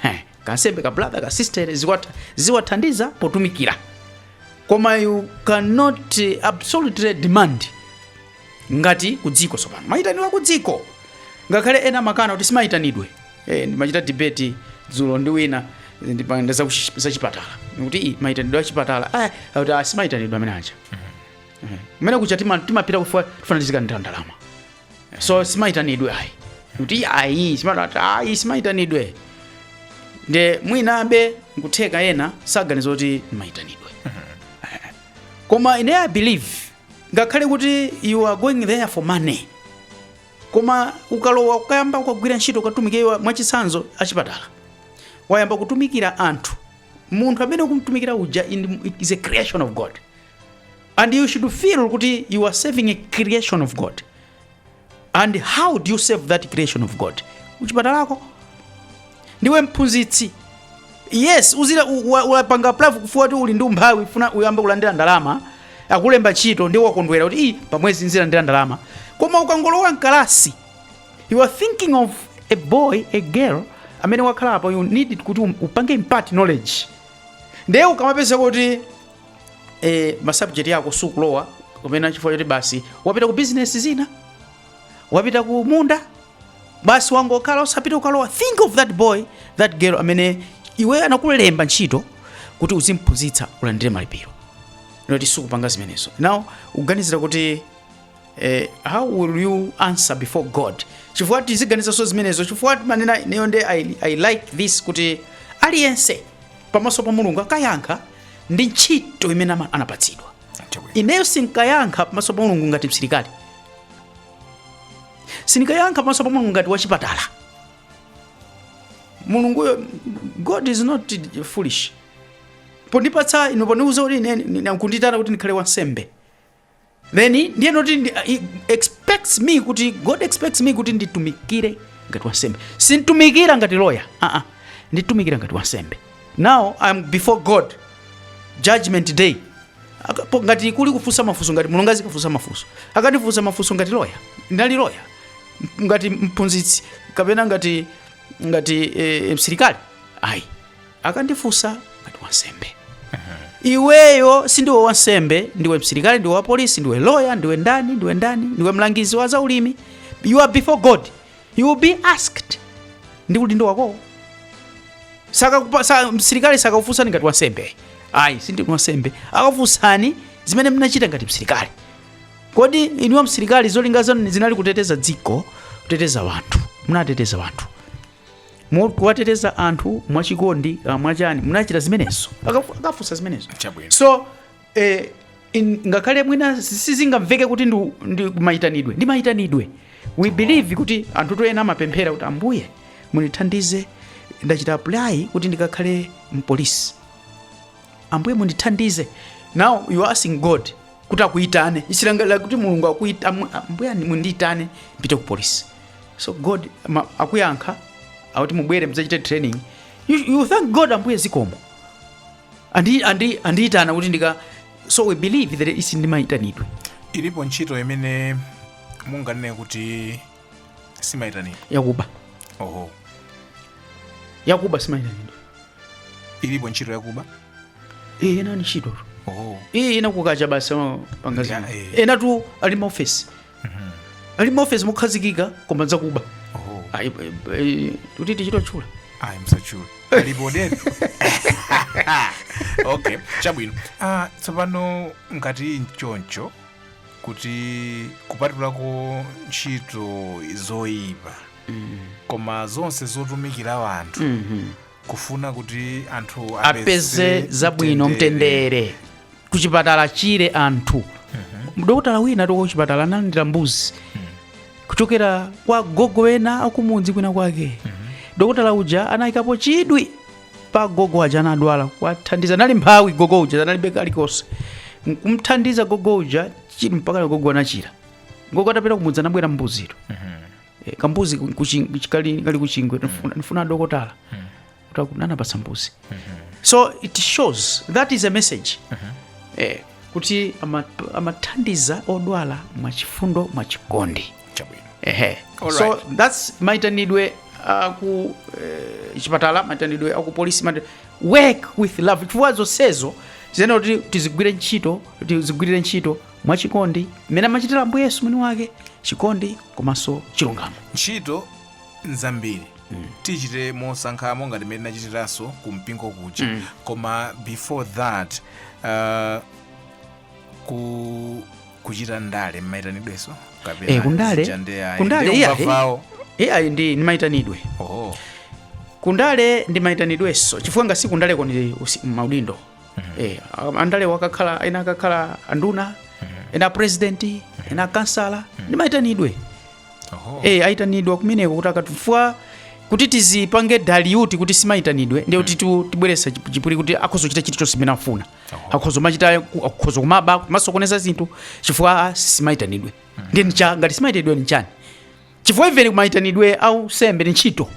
Ehe, kansembe ka brother ka sister ziwatha- ziwathandiza potumikira koma you cannot eh, absolutely demand ngati kudziko tsopano mayitanidwe akudziko ngakhale ena amakana kuti simayitanidwe eh, ndimachita debate dzulo ndi wina ndikunena za kuchi- za chipatala kuti "Ii, mayitanidwe a chipatala ah, akuti, "Ah, simayitanidwe amene aja Eh, kumene kuja tima- timapita kufuna tizikalandira ndalama so simaitanidwe ayi kuti ayi simatati ayi simaitanidwe nde mwinabe nkutheka ena saganiza kuti maitanidwe koma ine i believe ngakhale kuti you are going there for money koma ukalowa ukayamba ukagwira ntchito ukatumikira mwachitsanzo achipatala wayamba kutumikira anthu munthu amene ukumtumikira uja in- is a creation of god and you should feel kuti you are serving a creation of god and how do you serve that creation of god kuchipatalako ndiwe mphunzitsi yes uzira u- wa- wapanga apply chifukwa choti uli ndi umphawi ufuna uyambe kulandira ndalama akulemba ntchito ndiye wakondwera kuti "Ii, pamwezi nzilandira ndalama koma ukangolowa mkalasi you are thinking of a boy a girl amene wakhala apo you need kuti um- upange impart knowledge ndiye ukamapeza kuti e, masubject ako sukulowa kumene chifukwa choti basi wapita ku bizinesi zina wapita ku munda basi wangokhala osapita ukalowa think of that boy that girl amene iwe anakulemba ntchito kuti uzimphunzitsa ulandire malipiro nde sukupanga zimenezo now uganizira kuti eh, how will you answer before god chifukwa tiziganizanso zimenezo chifukwa timanena ineyo nde I, i like this kuti aliyense pamaso pa mulungu akayankha ndi ntchito imene ama- anapatsidwa ineyo sinkayankha pamaso pa mulungu ngati msilikali sinkayankha pamaso pa mulungu ngati wachipatala mulunguyo god is not foolish pondipatsa ino pondiuza kuti ine- ine- nkunditana kuti ndikhale wansembe then ndiye noti ndi, he expects me kuti god expects me kuti nditumikire ngati wansembe sintumikira ngati loya uh -uh. nditumikira ngati wansembe now i am before god judgment day Akapo, ngati kuli kufunsa mafunso ngati mulungu azikafunsa mafunso akandifunsa mafunso ngati loya ndinali loya M- ngati mphunzitsi kapena ngati ngati eh, msilikali ayi akandifunsa ngati wansembe iweyo sindiwe wansembe ndiwe msilikali ndiwe wapolisi ndiwe loya ndiwe ndani ndiwe ndani ndiwe mlangizi wa zaulimi you are before god you will be asked ndi udindo wakowo Sakakupa- sa- msilikali sakakufunsani ngati wansembe ayi sindinu wansembe akafunsani zimene mnachita ngati msilikali kodi inuwa msilikali zolinga zanu zinali kuteteza dziko kuteteza wanthu munateteza wanthu Mo- kuwateteza anthu mwachikondi ah, mwachani munachita zimenezo Akafu- akafunsa zimenezo Chabwino. so eh, in- ngakhale mwina sizingamveke kuti ndi, ndi mayitanidwe ndi mayitanidwe we believe kuti anthu tu ena amapemphera kuti ambuye mundithandize ndachita apply kuti ndikakhale mpolisi ambuye mundithandize now you are asking god kuti akuitane isilangalira kuti mulungu akuita amu- ambuye ani- mundiitane mpite ku polisi so god ama- akuyankha akuti mubwere mudzachite training you, you thank god ambuye zikomo Andi- andi- andiitana kuti ndika so we believe that it is ndi maitanidwe ilipo ntchito imene munganene kuti simaitanidwe yakuba oho yakuba simaitanidwe ilipo ntchito yakuba iyi ena ni ntchito oho iyi ena kukacha basi amapanga zina Yeah, eh. ena tu ali maofesi ali maofesi mokhazikika koma zakuba oho Ayi, eh, eh, kuti tichite kutchula ayi msatchule alipo deni okay chabwino ah, tsopano ngati nchoncho kuti kupatulako ntchito zoyipa koma zonse zotumikira anthu kufuna kuti anthu apeze zabwino mtendere kuchipatala achire anthu dokotala wina tu kuchipatala analandira mbuzi kuchokera kwa gogo ena akumudzi kwina kwake dokotala uja anayikapo chidwi pa gogo uja anadwala kwathandiza nali mphawi gogo uja analibe kalikonse nkumthandiza gogo uja chi- mpaka gogo anachira gogo atapita kumudzi anabwera mbuzitu Eh, kambuzi ku- kuchi- kuchi- kali kali kuchingwe nifuna- nifuna adokotala kunapasa mbuzi so it shows that is a message eh, kuti ama- amathandiza odwala mwachifundo mwachikondi chabwino ehe All right. so that's maitanidwe aku eh, chipatala maitanidwe aku polisi maita- work with love chifukwa zonsezo tiyenera kuti tizigwire ntchito tizigwirire ntchito mwachikondi mmene amachitira ambuye yesu mwini wake chikondi komanso chilungamo ntchito nzambiri tichite mosankhamo ngati mmene tinachitiranso ku mpingo kuja Mm. koma before that uh, ku kuchita ndale mmaitanidweso Eh, kundale- kundale, yeah, eh. vawo eya ndi ndimaitanidwe oh. kundale ndimaitanidwenso chifukwa ngati kundaleko ni usi- maudindo eh, andale wakakhala ena akakhala anduna ena president ena kansala ndimaitanidwe Oho. eh ayitanidwa kumeneko kuti aka- chifukwa kuti tizipange dala kuti simayitanidwe ndiye kuti tu- tibweresa chip- chipwiri kuti akhoza kuchita chilichonse chimene afuna akhoza kumachita ku- akhoza kumaba kumasokoneza zinthu chifukwa ah, simayitanidwe ndiye nicha ngati simayitanidwe nichani chifukwa even kumayitanidwe a unsembe ni ntchito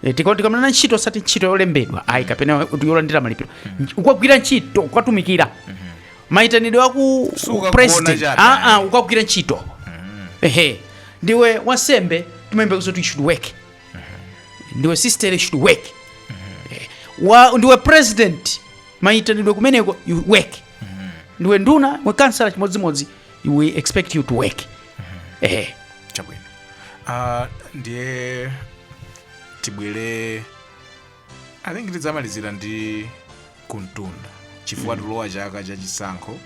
Eh, tika- tikamanena ntchito osati ntchito yolembedwa ayi kapena kuti yolandira malipiro Nch- ukagwira ntchito ukatumikira maitanidwe aku Si ukagona president chabe, Ah, ah, ayi. ukagwira ntchito ehe ndiwe wansembe timayembekeza kuti you should work ndiwe sister you should work Eh, wa ndiwe president maitanidwe kumeneko you work ndiwe nduna ndiwe kansala chimodzimodzi we expect you to work ehe chabwino Ah, ndiye tibwere i think tidzamalizira ndi kumtunda chifukwa tilowa chaka cha chisankho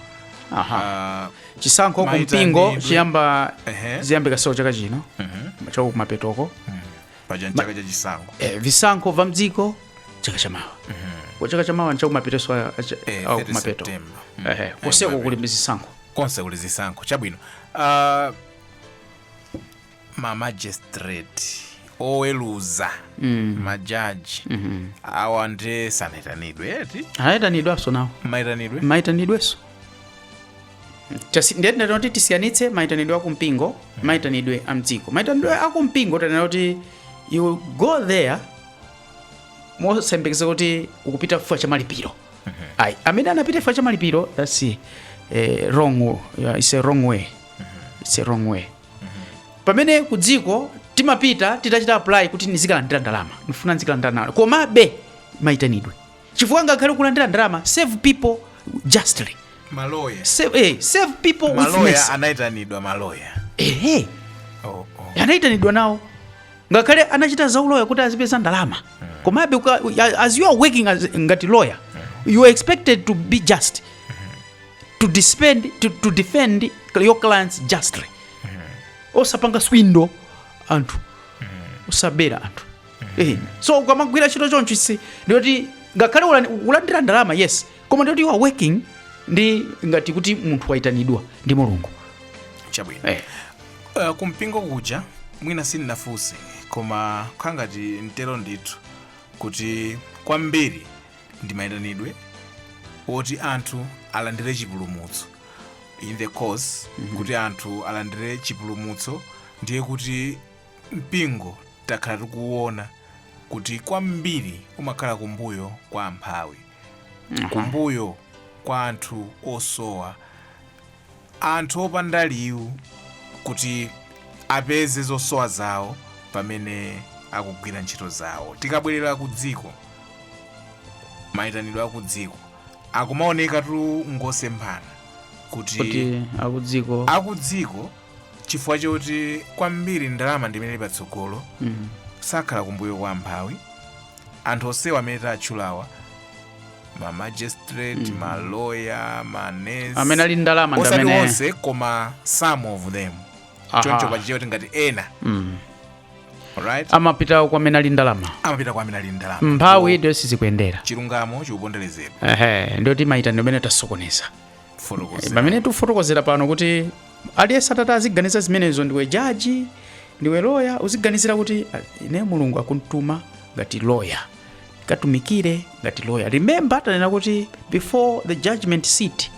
aha Ah, chisankho kumpingo chiyamba Ehe. ziyambikaso chaka chino cha kumapetoko paja ni chaka cha chisankho eh, visankho va mdziko chaka chamawa kwa chaka chamawa nchakumapeteso Eh, cha kumapeto September. Mm. Eh, koseko kuli zisankho konse kuli zisankho chabwino Ah, ma magistrate oweluza mm. majaji mm -hmm. awa nde sanayitanidwe eti ayitanidwaso nawo mayitanidwe mayitanidweso ndiye tinati kuti tisiyanitse mayitanidwe akumpingo mm. Mm-hmm. mayitanidwe amdziko mayitanidwe akumpingo tanena kuti you go there mosayembekeza kuti ukupita chifukwa cha malipiro mm -hmm. amene anapita chifukwa cha malipiro that's eh, wrong, uh, it's a wrong way it's a wrong way pamene ku dziko timapita titachita apply kuti ndizikalandira ndalama ndifuna ndizikalandira ndalama komabe maitanidwe chifukwa ngakhale kulandira ndalama save people justly maloya save, eh, save people with maloya mercy. anaitanidwa maloya Eh, eh, oh, oh. anaitanidwa nawo ngakhale anachita za uloya kuti azipeza ndalama komabe as you are working as, ngati lawyer you are expected to be just to defend, to, to defend your clients justly osapanga swindo anthu osabera anthu Eh, so ukamagwira ntchito choncho easy ndiye kuti ngakhale ulani- ulandira ndalama yes koma ndiye kuti you are working ndi ngati kuti munthu wayitanidwa ndi mulungu chabwino Eh. uh, kumpingo kuja mwina sindinafunse koma kangati ndinganene ndithu kuti kwambiri ndi mayitanidwe oti anthu alandire chipulumutso in the course kuti anthu alandire chipulumutso ndiye kuti mpingo takhala tikuwona kuti kwambiri umakhala kumbuyo kwa amphawi kumbuyo kwa anthu osowa anthu opanda liwu kuti apeze zosowa zawo pamene akugwira ntchito zawo. Tikabwerera ku dziko, mayitanidwe akudziko akumaonekatu ngosemphana kuti kuti akudziko akudziko chifukwa choti kwambiri ndalama ndimene ili patsogolo mm. sakhala kumbuyo kwa amphawi anthu onsewa amene tatchulawa mamagistrate mm. maloya manes amene ali ndalama osati onse koma some of them choncho pachichewa tingati ena mm. Right. amapita kwa amene ali ndalama amapita kwa amene ali ndalama mphawi ndiyo sizikuyendera chilungamo chikuponderezedwa ehe ndiyo timayita ndimene tasokoneza pamene tifotokozera pano kuti aliyense atati aziganiza zimenezo ndiwe jaji ndiwe loya uziganizira kuti ine mulungu akuntuma ngati loya katumikire ngati lawyer remember tanena kuti before the judgment seat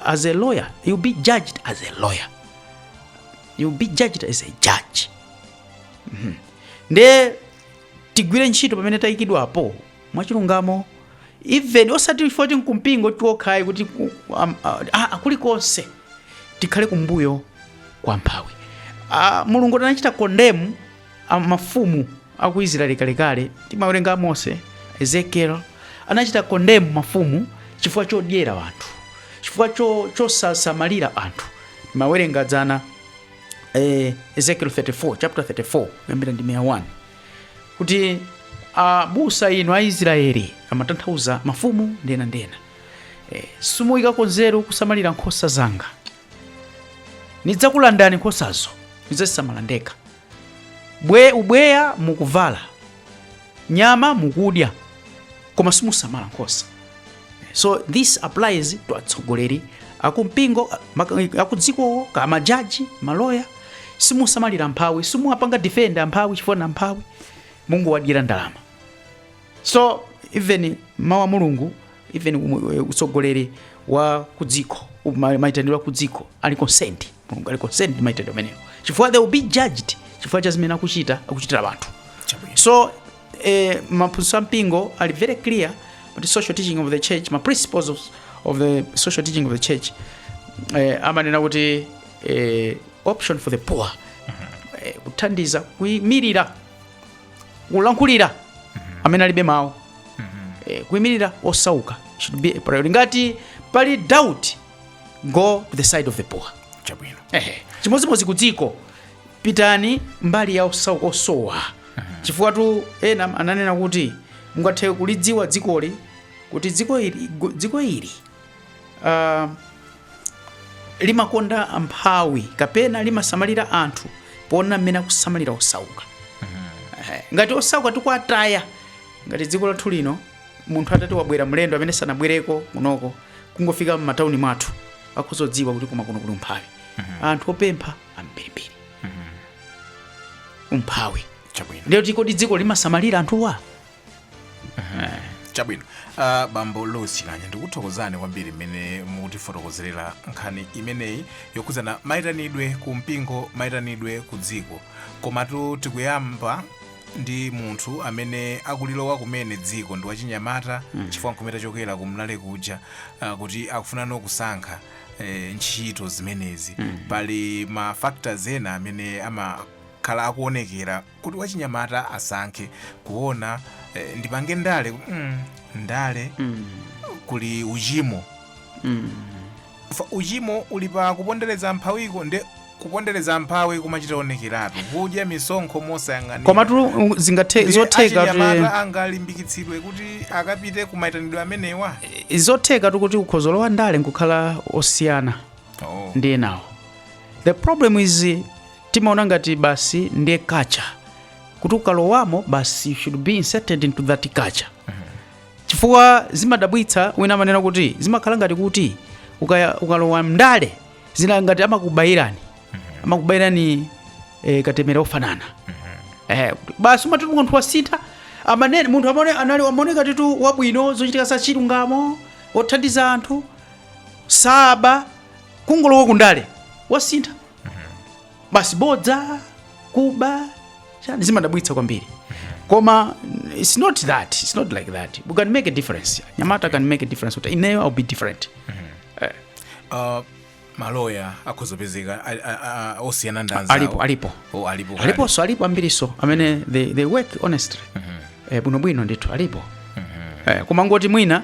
as a lawyer you'll be judged as a lawyer you'll be judged as a judge Mhm. nde tigwire ntchito pamene tayikidwapo mwachilungamo even osati foti nkumpingo kokhayi kuti ku- am- a- a- a- kulikonse tikhale kumbuyo kwa mphawi Ah, mulungu anachita kondemu a mafumu a ku israeli kalekale timawerenga amosi ezekiel anachita kondemu mafumu chifukwa chodyera anthu chifukwa cho- chosasamalira anthu timawerenga dzana eh, ezekiel 34 chapter 34 kuyambira ndime ya 1 kuti abusa inu a israeli amatanthauza mafumu ndena ndena eh, simuyikako nzeru kusamalira nkhosa zanga nidzakulandani nkhosazo nidzazisamala ndekha bwe ubweya mukuvala nyama mukudya koma simusamala nkhosa so this applies to atsogoleri akumpingo maka- akudzikowo ka majaji maloya simusamalira mphawi simuwapanga defend amphawi chifukwa ndi amphawi mungowadyera ndalama so even mawu a mulungu even umu- eh, utsogoleri wa kudziko u- ma- maitanidwe a kudziko ali concerned mulungu ali concerned ndi maitanidwe amenewo chifukwa they will be judged chifukwa cha zimene akuchita akuchitira anthu so eh, maphunzitso a mpingo ali very clear about the social teaching of the church ma principles of, of the social teaching of the church eh, amanena kuti eh, option for the poor eh, kuthandiza kuyimirira kulankhulira amene alibe mawu eh, kuimirira osauka should be a priority ngati pali doubt go to the side of the poor chabwino Ehe. chimodzimodzi ku dziko pitani mbali ya osauka osowa chifukwatu ena ananena kuti mungathe kulidziwa dzikoli kuti dziko ili, gu- dziko ili uh, limakonda amphawi kapena limasamalira anthu poona mmene akusamalira osauka Eh, ngati osauka tikuwataya ngati dziko lathu lino munthu atati wabwera mlendo amene sanabwereko kunoko kungofika m'matauni mwathu akhozodziwa kuti koma kuno kuli umphawi anthu opempha ambirimbiri umphawi chabwino ndiyoti kodi dziko limasamalira anthuwa chabwino uh, bambo louis chikanya ndikuthokozani kwambiri mmene mukutifotokozerera nkhani imeneyi yokhudzana mayitanidwe ku mpingo mayitanidwe ku dziko komatu tikuyamba ndi munthu amene akulilowa kumene dziko ndi wachinyamata mm. chifukwa nkumene tachokera ku mlale kuja uh, kuti akufunano kusankha eh, ntchito zimenezi mm. pali ma factors ena amene amakhala akuonekera kuti wachinyamata asankhe kuona eh, ndipange ndale kuti, mm, ndale Mm. kuli uchimo Mm. Fa- uchimo uli pa kupondereza mphawiko nde kupondereza mphawi kumachita onekeratu kudya misonkho mosayang'anira komatu um, zingathe Ndiye zotheka achinyamatatu angalimbikitsidwe kuti akapite ku maitanidwe amenewa zothekatu kuti ukhoza kulowa ndale nkukhala osiyana oh. ndi enawo the problem is timaona ngati basi ndiye culture kuti ukalowamo basi you should be inserted into that culture chifukwa zimadabwitsa wina amanena kuti zimakhala ngati kuti ukaya- ukalowa mndale zina ngati amakubayirani amakubayirani eh, katemera ofanana eh, basi umati munthu wasintha amanene munthu amene anali amaoneka ndithu wabwino zochitika za chilungamo othandiza anthu tsopano kungolowa kundale wasintha basi bodza kuba chani zimadabwitsa kwambiri koma mm, it's not that it's not like that we can make a difference nyamata can make a difference kuti ineyo i'll be different Uh, maloya akhoza kupezeka a- a- a- a- osiyana ndi anzawo. alipo alipo Oh, alipo kale. aliponso alipo ambirinso amene they, they work honestly eh, bwinobwino ndithu alipo eh, koma ngoti mwina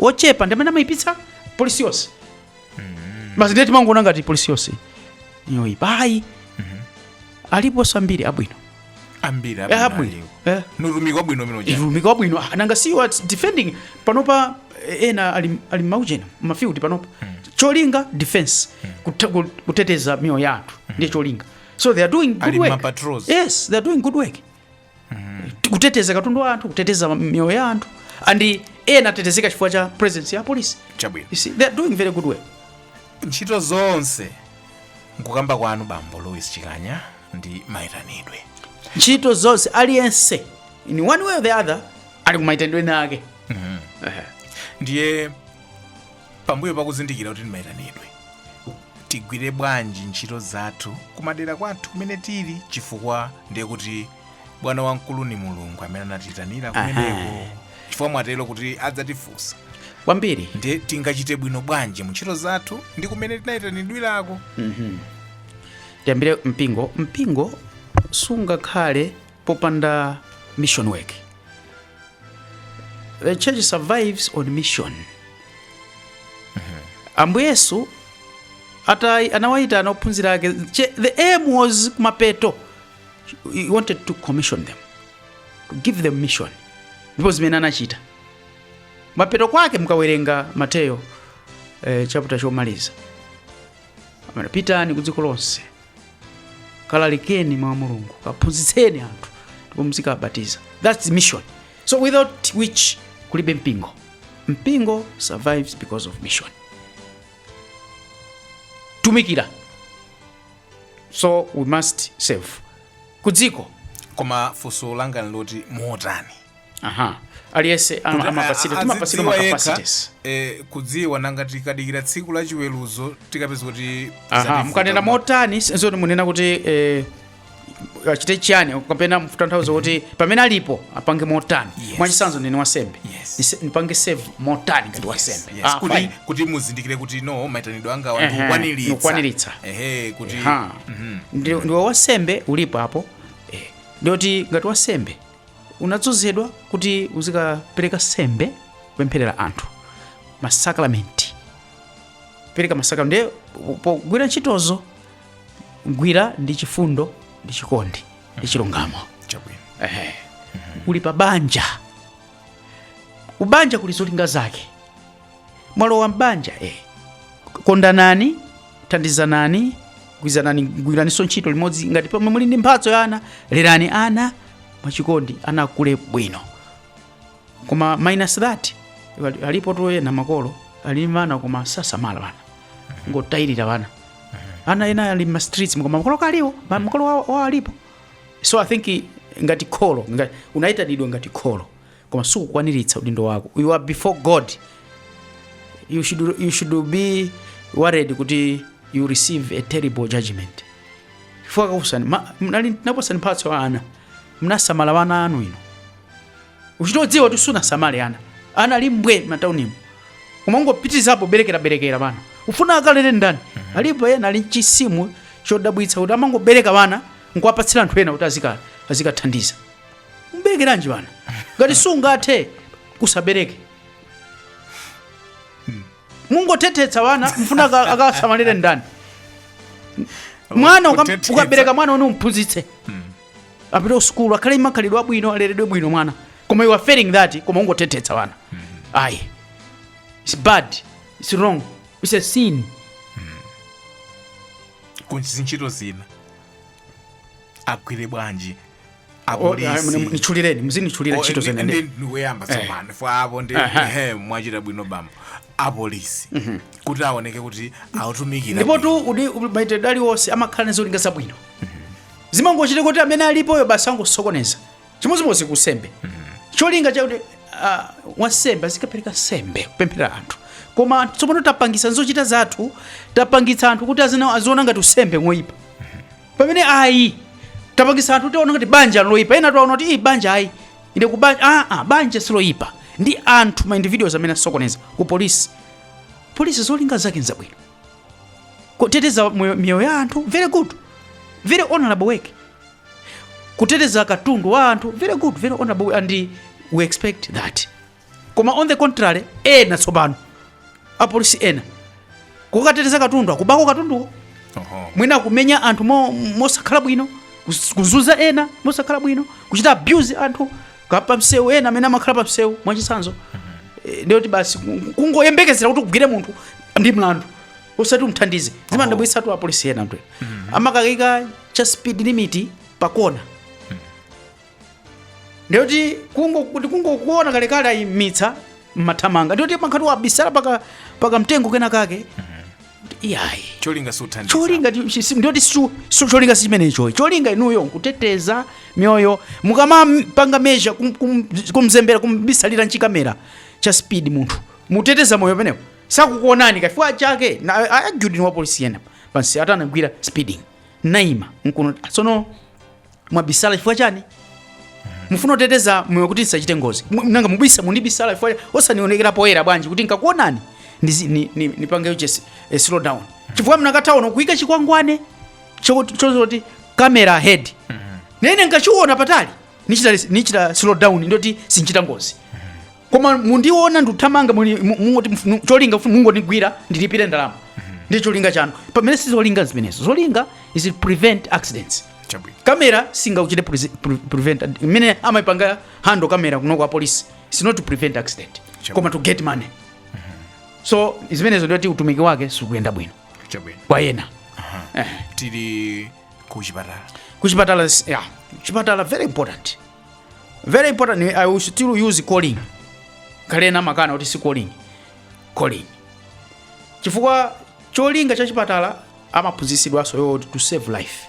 ochepa ndi amene amayipitsa polisi yonse basi ndiye timangoona ngati polisi yonse yoyipa ayi aliponso ambiri abwino ambiri Eh, abwino Eh, ndi utumiki wabwino umene uja utumiki wabwino Ah, nanga si wa defending panopa eh, ena ali, ali maujeni mafield panopa cholinga defense kute- ku- kuteteza miyoyo ya anthu ndiye cholinga so they are doing good Ali work mapatrols. yes they are doing good work kuteteza katundu wa anthu kuteteza miyoyo ya anthu and ena atetezeka chifukwa cha presence ya polisi chabwino you see they are doing very good work ntchito zonse nkukamba kwanu bambo louis chikanya ndi maitanidwe ntchito zonse aliyense in one way or the other ali kumaitanidwe nake ndiye pambuyo pakuzindikira kuti ndi maitanidwe tigwire bwanji ntchito zathu kumadera kwathu kumene tili chifukwa ndiye kuti bwana wamkulu ni mulungu amene anatiyitanira Aha. kumeneko chifukwa mwatero kuti adzatifunsa kwambiri ndiye tingachite bwino bwanji mu ntchito zathu ndi kumene tinayitanidwirako tiyambire mpingo mpingo sungakhale popanda mission work the church survives on mission ambuye yesu atai anawayitana aophunzira ake che- the aim was kumapeto he wanted to commission them to give them mission ndipo zimene anachita mapeto kwake mukawerenga mateyo eh, chapter chomaliza amene pitani ku dziko lonse kalalikeni mawu a mulungu kaphunzitseni anthu ndipo muzikawabatiza thats the mission so without which kulibe mpingo mpingo survives because of mission tumikira so we must serve kudziko koma funso langa nloti motani aha aliyense am- Kuti amapatsidwa a- a- timapatsidwa adziwa yekha, macapacities eh, kudziwa nanga tikadikira tsiku la chiweruzo tikapeza kuti aha zativuta. mukanena motani zoti munena kuti eh, achite chiyani kapena mutanthauza kuti pamene alipo apange motani Yes. mwachitsanzo ndine wasembe Yes. Ndise- ndipange serve motani ngati wasembe Yes, Ah, kuti, fine. kuti muzindikire kuti no maitanidwe anga Ehe, ndikukwaniritsa ndikukwaniritsa. ehe kuti Ha. Ndi- ndiwe wasembe ulipo apo eh, ndiye kuti ngati wasembe unadzozedwa kuti uzikapereka sembe kupempherera anthu masakramenti pereka masakramenti ndiye pogwira ntchitozo gwira ndi chifundo ndi chikondi ndi chilungamo chabwino Ehe. uli pa banja kubanja kuli zolinga zake mwalowa m'banja eh. kondanani thandizanani gwirizanani gwiraniso ntchito limodzi ngati pomwe muli ndi mphatso ya ana lerani ana mwachikondi ana akule bwino koma minus that ali- alipotu ena makolo ali n'ana koma sasamala bana ngotayirira bana ana ena ali m'ma streets koma makolo kaliwo ma- makolo wao wao alipo so i think ngati kholo ngati, unaitanidwa ngati kholo koma sukukwaniritsa udindo wako you are before god you should, you should be worried kuti you receive a terrible judgment chifukwa kakusani ma- mnali ndinakupasani mphatso ya ana mnasamala wana anu iwe uchitodziwa kuti sunasamale ana ana ali mbwe mataunimu koma ungopitirizapo berekeraberekera bana ufuna akalere ndani alipo ena ali nchizimu chodabwitsa kuti amangobereka bana nkuwapatsira anthu ena kuti azika- azikathandiza mberekeranji bana ngati sungathe usabereke mungothethetsa bana mfuna aka- akasamalire ndani mwana ukam- Kuthethetsa. ukabereka mwana one umphunzitse apite usukulu akhale makhalidwe abwino aleredwe bwino mwana koma you are failing that koma ungothethetsa bana ayi it's bad it's wrong it's a sin ku zintchito zina agwire bwanji apolisi nitchulireni muzinichulira ntchito zina ndi- ndikuyamba tsopano police apo ndi Aha. ehe, mwachita bwino bambo apolisi kuti aoneke kuti akutumikira ndipotu udi maitanidwe aliwonse amakhala ndi zolinga zabwino zimangochitika kuti amene alipoyo basi angosokoneza chimodzimodzi kusembe cholinga chakuti ah, wansembe azikapereka nsembe kupemphera anthu koma anthu tsopano tapangisa zochita zathu tapangitsa anthu kuti azina- aziona ngati usembe ngoyipa pamene ayi tapangisa anthu tiziona ngati banja nloyipa ena tiwaona kuti banja ayi ine banja ah, ah, banja siloyipa ndi anthu ma individuals amene asokoneza ku polisi polisi zolinga zake nzabwino kuteteza miyoyo ya anthu very good very honorable work kuteteza katundu wa anthu very good very honorable and we expect that koma on the contrary ena tsopano apolisi ena kukateteza katundu akubako katunduko Oho. mwina kumenya anthu mo- mosakhala bwino kus- kuzunza ena mosakhala bwino kuchita abuse anthu apa msewu ena amene amakhala pa msewu mwachitsanzo Eh, ndiye kuti basi ku- kungoyembekezera kuti ugwire munthu ndi mlandu osati umthandize zimandidabwitsatu apolisi ena mmatu amakaika cha speed limit pakona ndiyoti kungokuona kalekale ayimitsa mmathamanga ndiyoti pankhati wabisala paka paka mtengo kena kake iyayi cholinga suthandiza cholinga ti- si- si- ndiyoti su- su- cholinga si chimenecho cholinga inuyo nkuteteza miyoyo mukamapanga measure kum- kum- kumzembera kumbisalira nchikamera cha speed munthu muteteza moyo pamenepo sakukuonani kafika chake na a- argue-d ndi wa polisi wina pansi atandigwira speeding naima nkunena tsono mwabisala chifukwa chani mufuna kuteteza moyo kuti ndisachite ngozi Mu- nanga mubisa mundibisala chifukwa chani? osanionekera poyera bwanji kuti nkakuonani ndizi- ni- ni- nipange just a slow down chifukwa mnakatha kuika chikwangwane chozoti camera ahead nene nkachiona patali nichita nichita slow down ndiyoti sinchita ngozi koma mundiona ndikuthamanga muli- mu- mungoti mf- mu- cholinga mf- mungondigwira ndilipire ndalama ndi cholinga chanu pamene si zolinga zimenezo zolinga is to prevent accidents chabwino kamera singachite prese- pre- prevent mmene amaipanga handle kamera kuno kwa apolisi is not to prevent accident Sure. koma to get money so zimenezo ndiyoti utumiki wake sikuyenda bwino chabwino kwa ena tili ku chipatala kuchipatala s- yeah. chipatala very important very important i will still use calling kaya ena amakana kuti si calling calling chifukwa cholinga cha chipatala amaphunzitsidwanso is to save life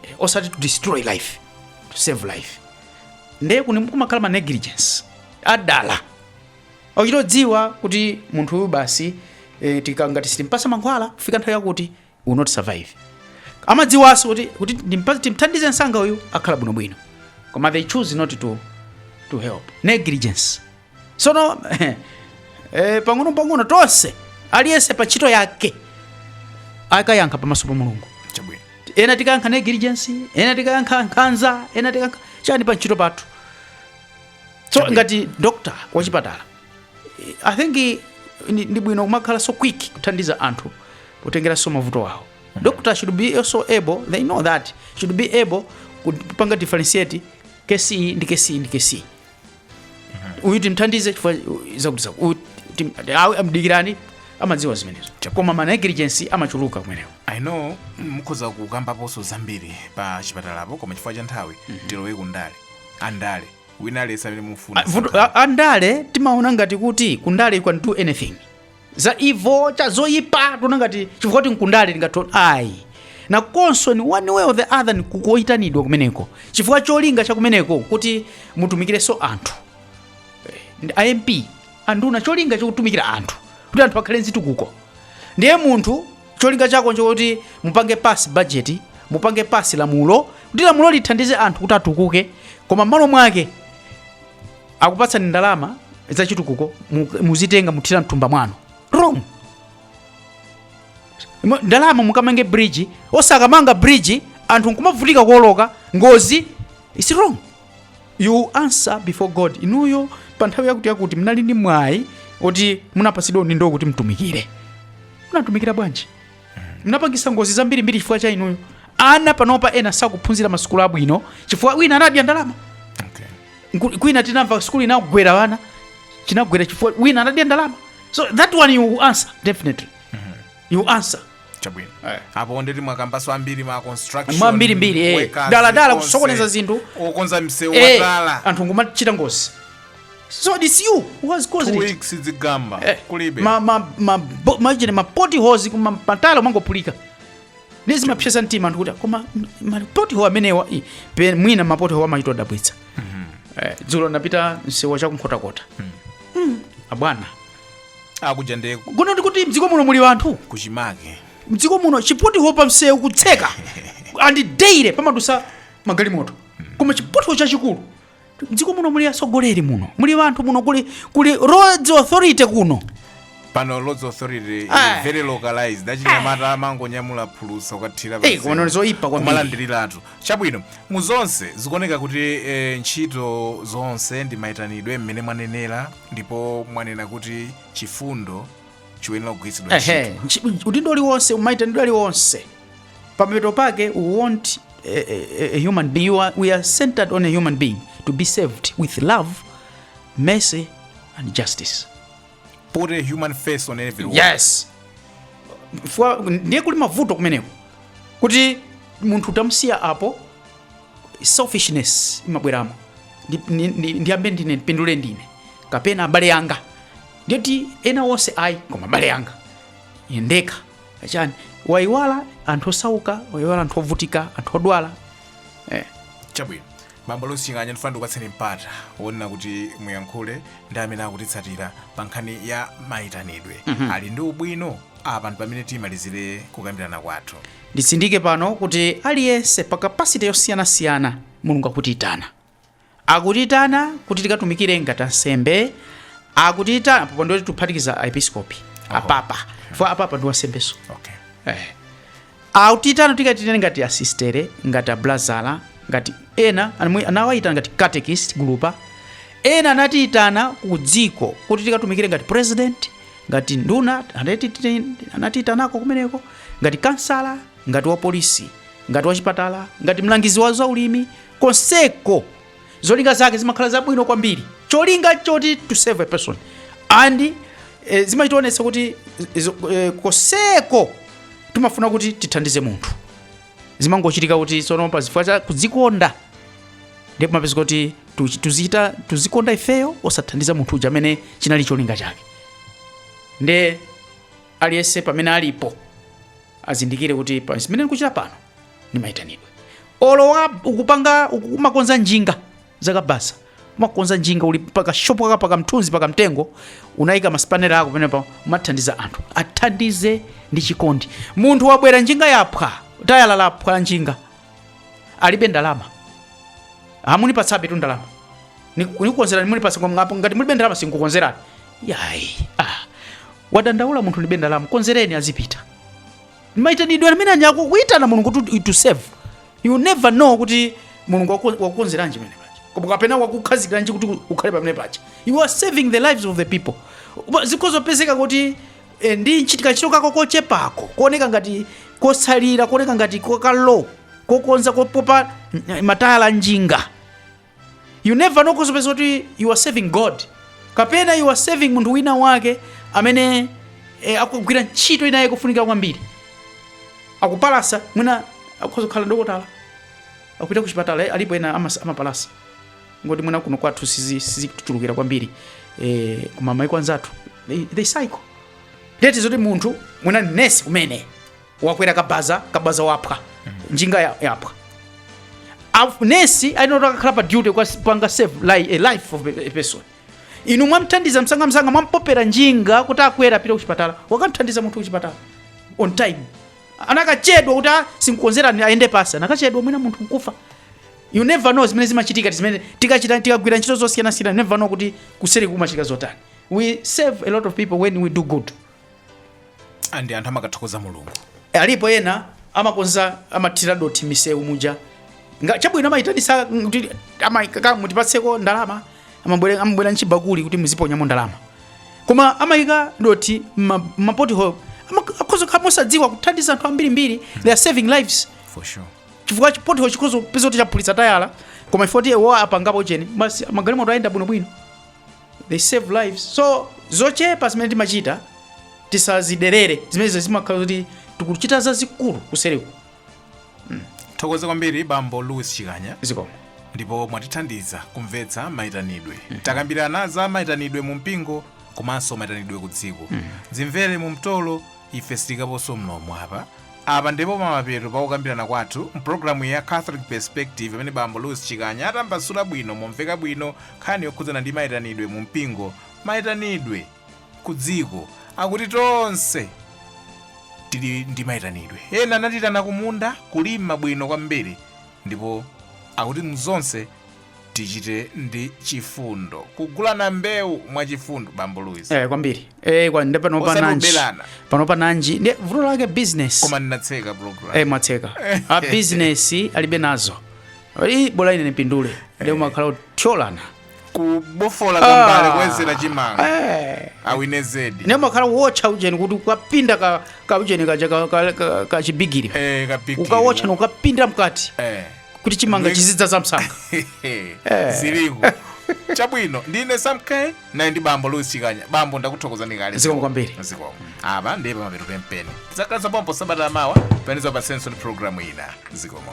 Eh, osati to destroy life to save life ndiye kumakhala ma negligence adala ochitodziwa kuti munthu uyu basi eh, tikangati sitimpasa mankhwala kufika nthawi yakuti will not survive amadziwaso kuti kuti ndimpa- timthandize msanga uyu akhala bwinobwino koma they choose not to, to help negligence sono eh, pang'ono pang'ono tonse aliyense pa ntchito yake akayankha pamaso pa mulungu chabwino ena tikayankha negligence ena tikayankha nkhanza ena tikayankha chani pa ntchito pathu so ngati doctor wachipatala i think eh, ndi ndi bwino kumakhala so quick kuthandiza anthu potengeranso mavuto awo doctor should be also able they know that should be able kupanga differentiate kesi ndi kesi ndi kesi uyu timthandize chifukwa zakuti zaku- uyu tim- awe amdikirani amadziwa zimenezo koma ma negligence amachuluka kumenewo i know mukhoza kukambaponso zambiri pa chipatalapo koma chifukwa cha nthawi tilowe kundale andale wina aliyense amene mufuna Ah, vuto- a- andale timaona ngati kuti kundale you can do anything za evil cha zoyipa tiona ngati chifukwa kuti nkundale tingatona ayi nakonso ni one way or the other ni kukayitanidwa kumeneko chifukwa cholinga cha kumeneko kuti mutumikirenso anthu ndi a MP anduna cholinga chokutumikira anthu kuti anthu akhale nzitukuko ndiye munthu Cholinga chako nchokuti mupange pass budget, mupange pass lamulo kuti lamulo lithandize anthu kuti atukuke, koma m'malo mwake akupatsani ndalama zachitukuko mu- muzitenga muthira mthumba mwanu. Wrong. Mo- Ndalama mukamange bridge, osakamanga bridge anthu nkumavutika kuoloka ngozi. It's wrong. you will answer before god inuyo pa nthawi yakuti yakuti munali ndi mwayi oti munapatsidwa udindo kuti mutumikire munatumikira bwanji munapangitsa ngozi zambirimbiri chifukwa cha inuyo ana panopa ena sakuphunzira masukulu abwino chifukwa wina anadya ndalama Okay. Nku- kwina tinamva sukulu inagwera wana chinagwera chifukwa wina anadya ndalama so that one you will answer definitely you will answer chabwino Eh. apo ndeti mwakambaso ambiri ma construction mwambirimbiri eh. workers, dala dala onse. kusokoneza zinthu okonza msewu eh, wadala anthu nkumachita ngozi so it is you who has caused it two weeks zigamba Eh, kulibe ma- ma- ma- bo- machine ma potholes kuma matayala kumangophulika ndiye zimapsesa mtima anthu kuti koma m- ma pothole amenewa i, pe- mwina ma pothole amachita odabwitsa Eh, dzulo napita msewu wa chakunkhotakota Mm, abwana akuja nde kuno ndikuti mdziko muno muli anthu kuchimake mdziko muno chipothole pa msewu kutseka and daily pamadusa magalimoto koma chipothole chachikulu mdziko muno muli atsogoleri muno muli anthu muno kuli kuli roads authority kuno pano roads authority Ah. is very localized achinyamata amangonyamula phulusa kukathira Eh, kuno zoipa kwambiri. malandiriratu Chabwino, mu zonse zikuoneka kuti e, ntchito zonse ndi mayitanidwe mmene mwanenera ndipo mwanena kuti chifundo chiyenera kugwiritsidwa Ehe, ntchito. ntchi- udindo uliwonse mayitanidwe aliwonse pamapeto pake we want a, a, a human being we are, we are centered on a human being to be served with love mercy and justice put a human face on every wall. yes Fwa- ndiye kuli mavuto kumeneko kuti munthu utamsiya apo selfishness imabweramo Ndi- ndi- ndi- ndiyambe ndine ndipindule ndine kapena abale anga ndiye kuti ena onse ayi koma abale anga Ine ndekha achani wayiwala anthu osauka wayiwala anthu ovutika anthu odwala eh. chabwino bambo lusi ching'anya ndifuna ndikupatseni mpata wonena kuti muyankhule ndi amene akutitsatira pa nkhani ya mayitanidwe ali ndi ubwino apa ndi pamene timalizire kukambirana kwathu nditsindike pano kuti aliyense pa capacity yosiyanasiyana mulungu akutiyitana akutiyitana kuti tikatumikire ngati ansembe akutiyitana pompo ndiye tiphatikiza aepiskopi apapa chifukwa apapa ndi wansembenso okay. eh. Akutiitana tikaitanire ngati asistere, ngati abulazala, ngati ena anamwe- anawaitana ngati catechist gulupa. Ena anatiitana ku dziko kuti tikatumikire ngati president, ngati nduna anatiti- anatiitanako kumeneko, ngati kansala, ngati wapolisi, ngati wachipatala, ngati mlangizi wa zaulimi konseko zolinga zake zimakhala zabwino kwambiri cholinga choti to serve a person and eh, zimationetsa kuti izo- eh, konseko timafuna kuti tithandize munthu zimangochitika kuti tsono pa zifukwa cha kudzikonda ndiye pamapezeka kuti tu- tuzichita tuzikonda ifeyo osathandiza munthu uja amene chinali cholinga chake nde aliyense pamene alipo azindikire kuti pa zimene ndikuchita pano ni maitanidwe olo wa ukupanga uku- umakonza njinga zakabasa umakonza njinga uli pakashopu kaka pakamthunzi pakamtengo unayika masipanera ako pamenepa umathandiza anthu athandize ndi chikondi munthu wabwera njinga yaphwa tayala laphwa la njinga alibe ndalama amunipatsabetu ndalama Niku- nikukonzerani munipatsa koma ngapo ngati mulibe ndalama sinkukonzerani yayi ah. wadandaula munthu alibe ndalama konzereni azipita maitanidwe amene aja akukuitana mulungu kuti to serve you never know kuti mulungu waku- wakukonzeranji pamene paja koma kapena wakukhazikiranji kuti ukhale pamene paja you are serving the lives of the people Koma zikhoza kupezeka kuti eh, ndi nchit- kantchito kako kochepako kuoneka ngati kosalira kuoneka ngati ka low kokonza kopopa mm, matayala njinga you never know ukhoza kupeza kuti you are serving god kapena you are serving munthu wina wake amene eh, akugwira ntchito ina yake yofunika kwambiri akupalasa mwina akhoza kukhala dokotala akupita ku chipatala eh, alipo ena amas- amapalasa kungoti mwina kuno kwathu sizi- sizikuchulukira kwambiri eh, koma maiko anzathu they, they cycle ndiye zoti munthu mwina nesi kumene wakwera kabaza kabaza waphwa njinga ya- yaphwa Af- nesi ali noti akakhale pa duty kukapanga save li, a life of a person inu mwamthandiza msangamsanga mwampopera njinga kuti akwere apite kuchipatala wakamthandiza munthu kuchipatala on time anakachedwa kuti "Ah, sinkukonzerani ayende pansi anakachedwa mwina munthu nkufa you never know zimene zimachitika zimene tikachita tikagwira ntchito zosiyanasiyana you never know kuti kuseri kumachitika zotani we save a lot of people when we do good and anthu amakathokoza mulungu Eh, alipo ena amakonza amathira dothi misewu muja Nga- chabwino amayitanitsa kuti ama- kaka mutipatseko ndalama amabwere- amabwera nchibakuli kuti muziponyamo ndalama koma amayika dothi mma- mmapothole Ama- akhoza kukhala mosadziwa kuthandiza anthu ambirimbiri they are saving lives for sure chifukwa chipothole chikhoza kupeza kuti chaphulitsa tayala koma iwowo apangapo chani basi magalimoto ayenda bwinobwino they save lives so zochepa zimene timachita tisaziderere zimenezo zimakhala kuti tikuchita zazikulu kuseriku tithokoze kwambiri bambo louis chikanya zikomo ndipo mwatithandiza kumvetsa mayitanidwe takambirana za mayitanidwe mu mpingo komanso mayitanidwe ku dziko zimvere mu mtolo Ife sitiyikaponso mlomo apa. Apa ndi pamapeto pa kukambirana kwathu m'programuyi ya Catholic Perspective pamene Bambo Louis Chikanya atambasula bwino momveka bwino nkhani yokhudzana ndi maitanidwe mu mpingo, maitanidwe ku dziko, akuti tonse tili ndi maitanidwe. Ena anatiyitana ku munda, kulima bwino kwambiri, ndipo akuti muzonse tichite ndi chifundo kugulana mbewu mwa chifundo bambo luis eh, kwambiri eh, kwa, nde panopa Osati nanji kuberana. panopa nanji ndi vuto lake business koma ndinatseka program eh, mwatseka a business alibe nazo ali bola ine nipindule nde umakhala kuthyolana kubofola kambale koyezera chimanga eh. awine zedi nde mwakhala kuwotcha ujeni kuti ukapinda ka, ka ujeni kaja ka, ka, ka, ka chibigiri eh, kapikiri. ukawotcha nukapinda mkati eh. kuti chimanga chizidzadza msanga ziliko chabwino ndine samke naye ndi bambo louis chikanya bambo ndakuthokozani kale Zikomo kwambiri. zikomo apa ndi pamapeto penipeni tidzakhalanso pompano sabata la mawa panizo pa senso ndi programu ina zikomo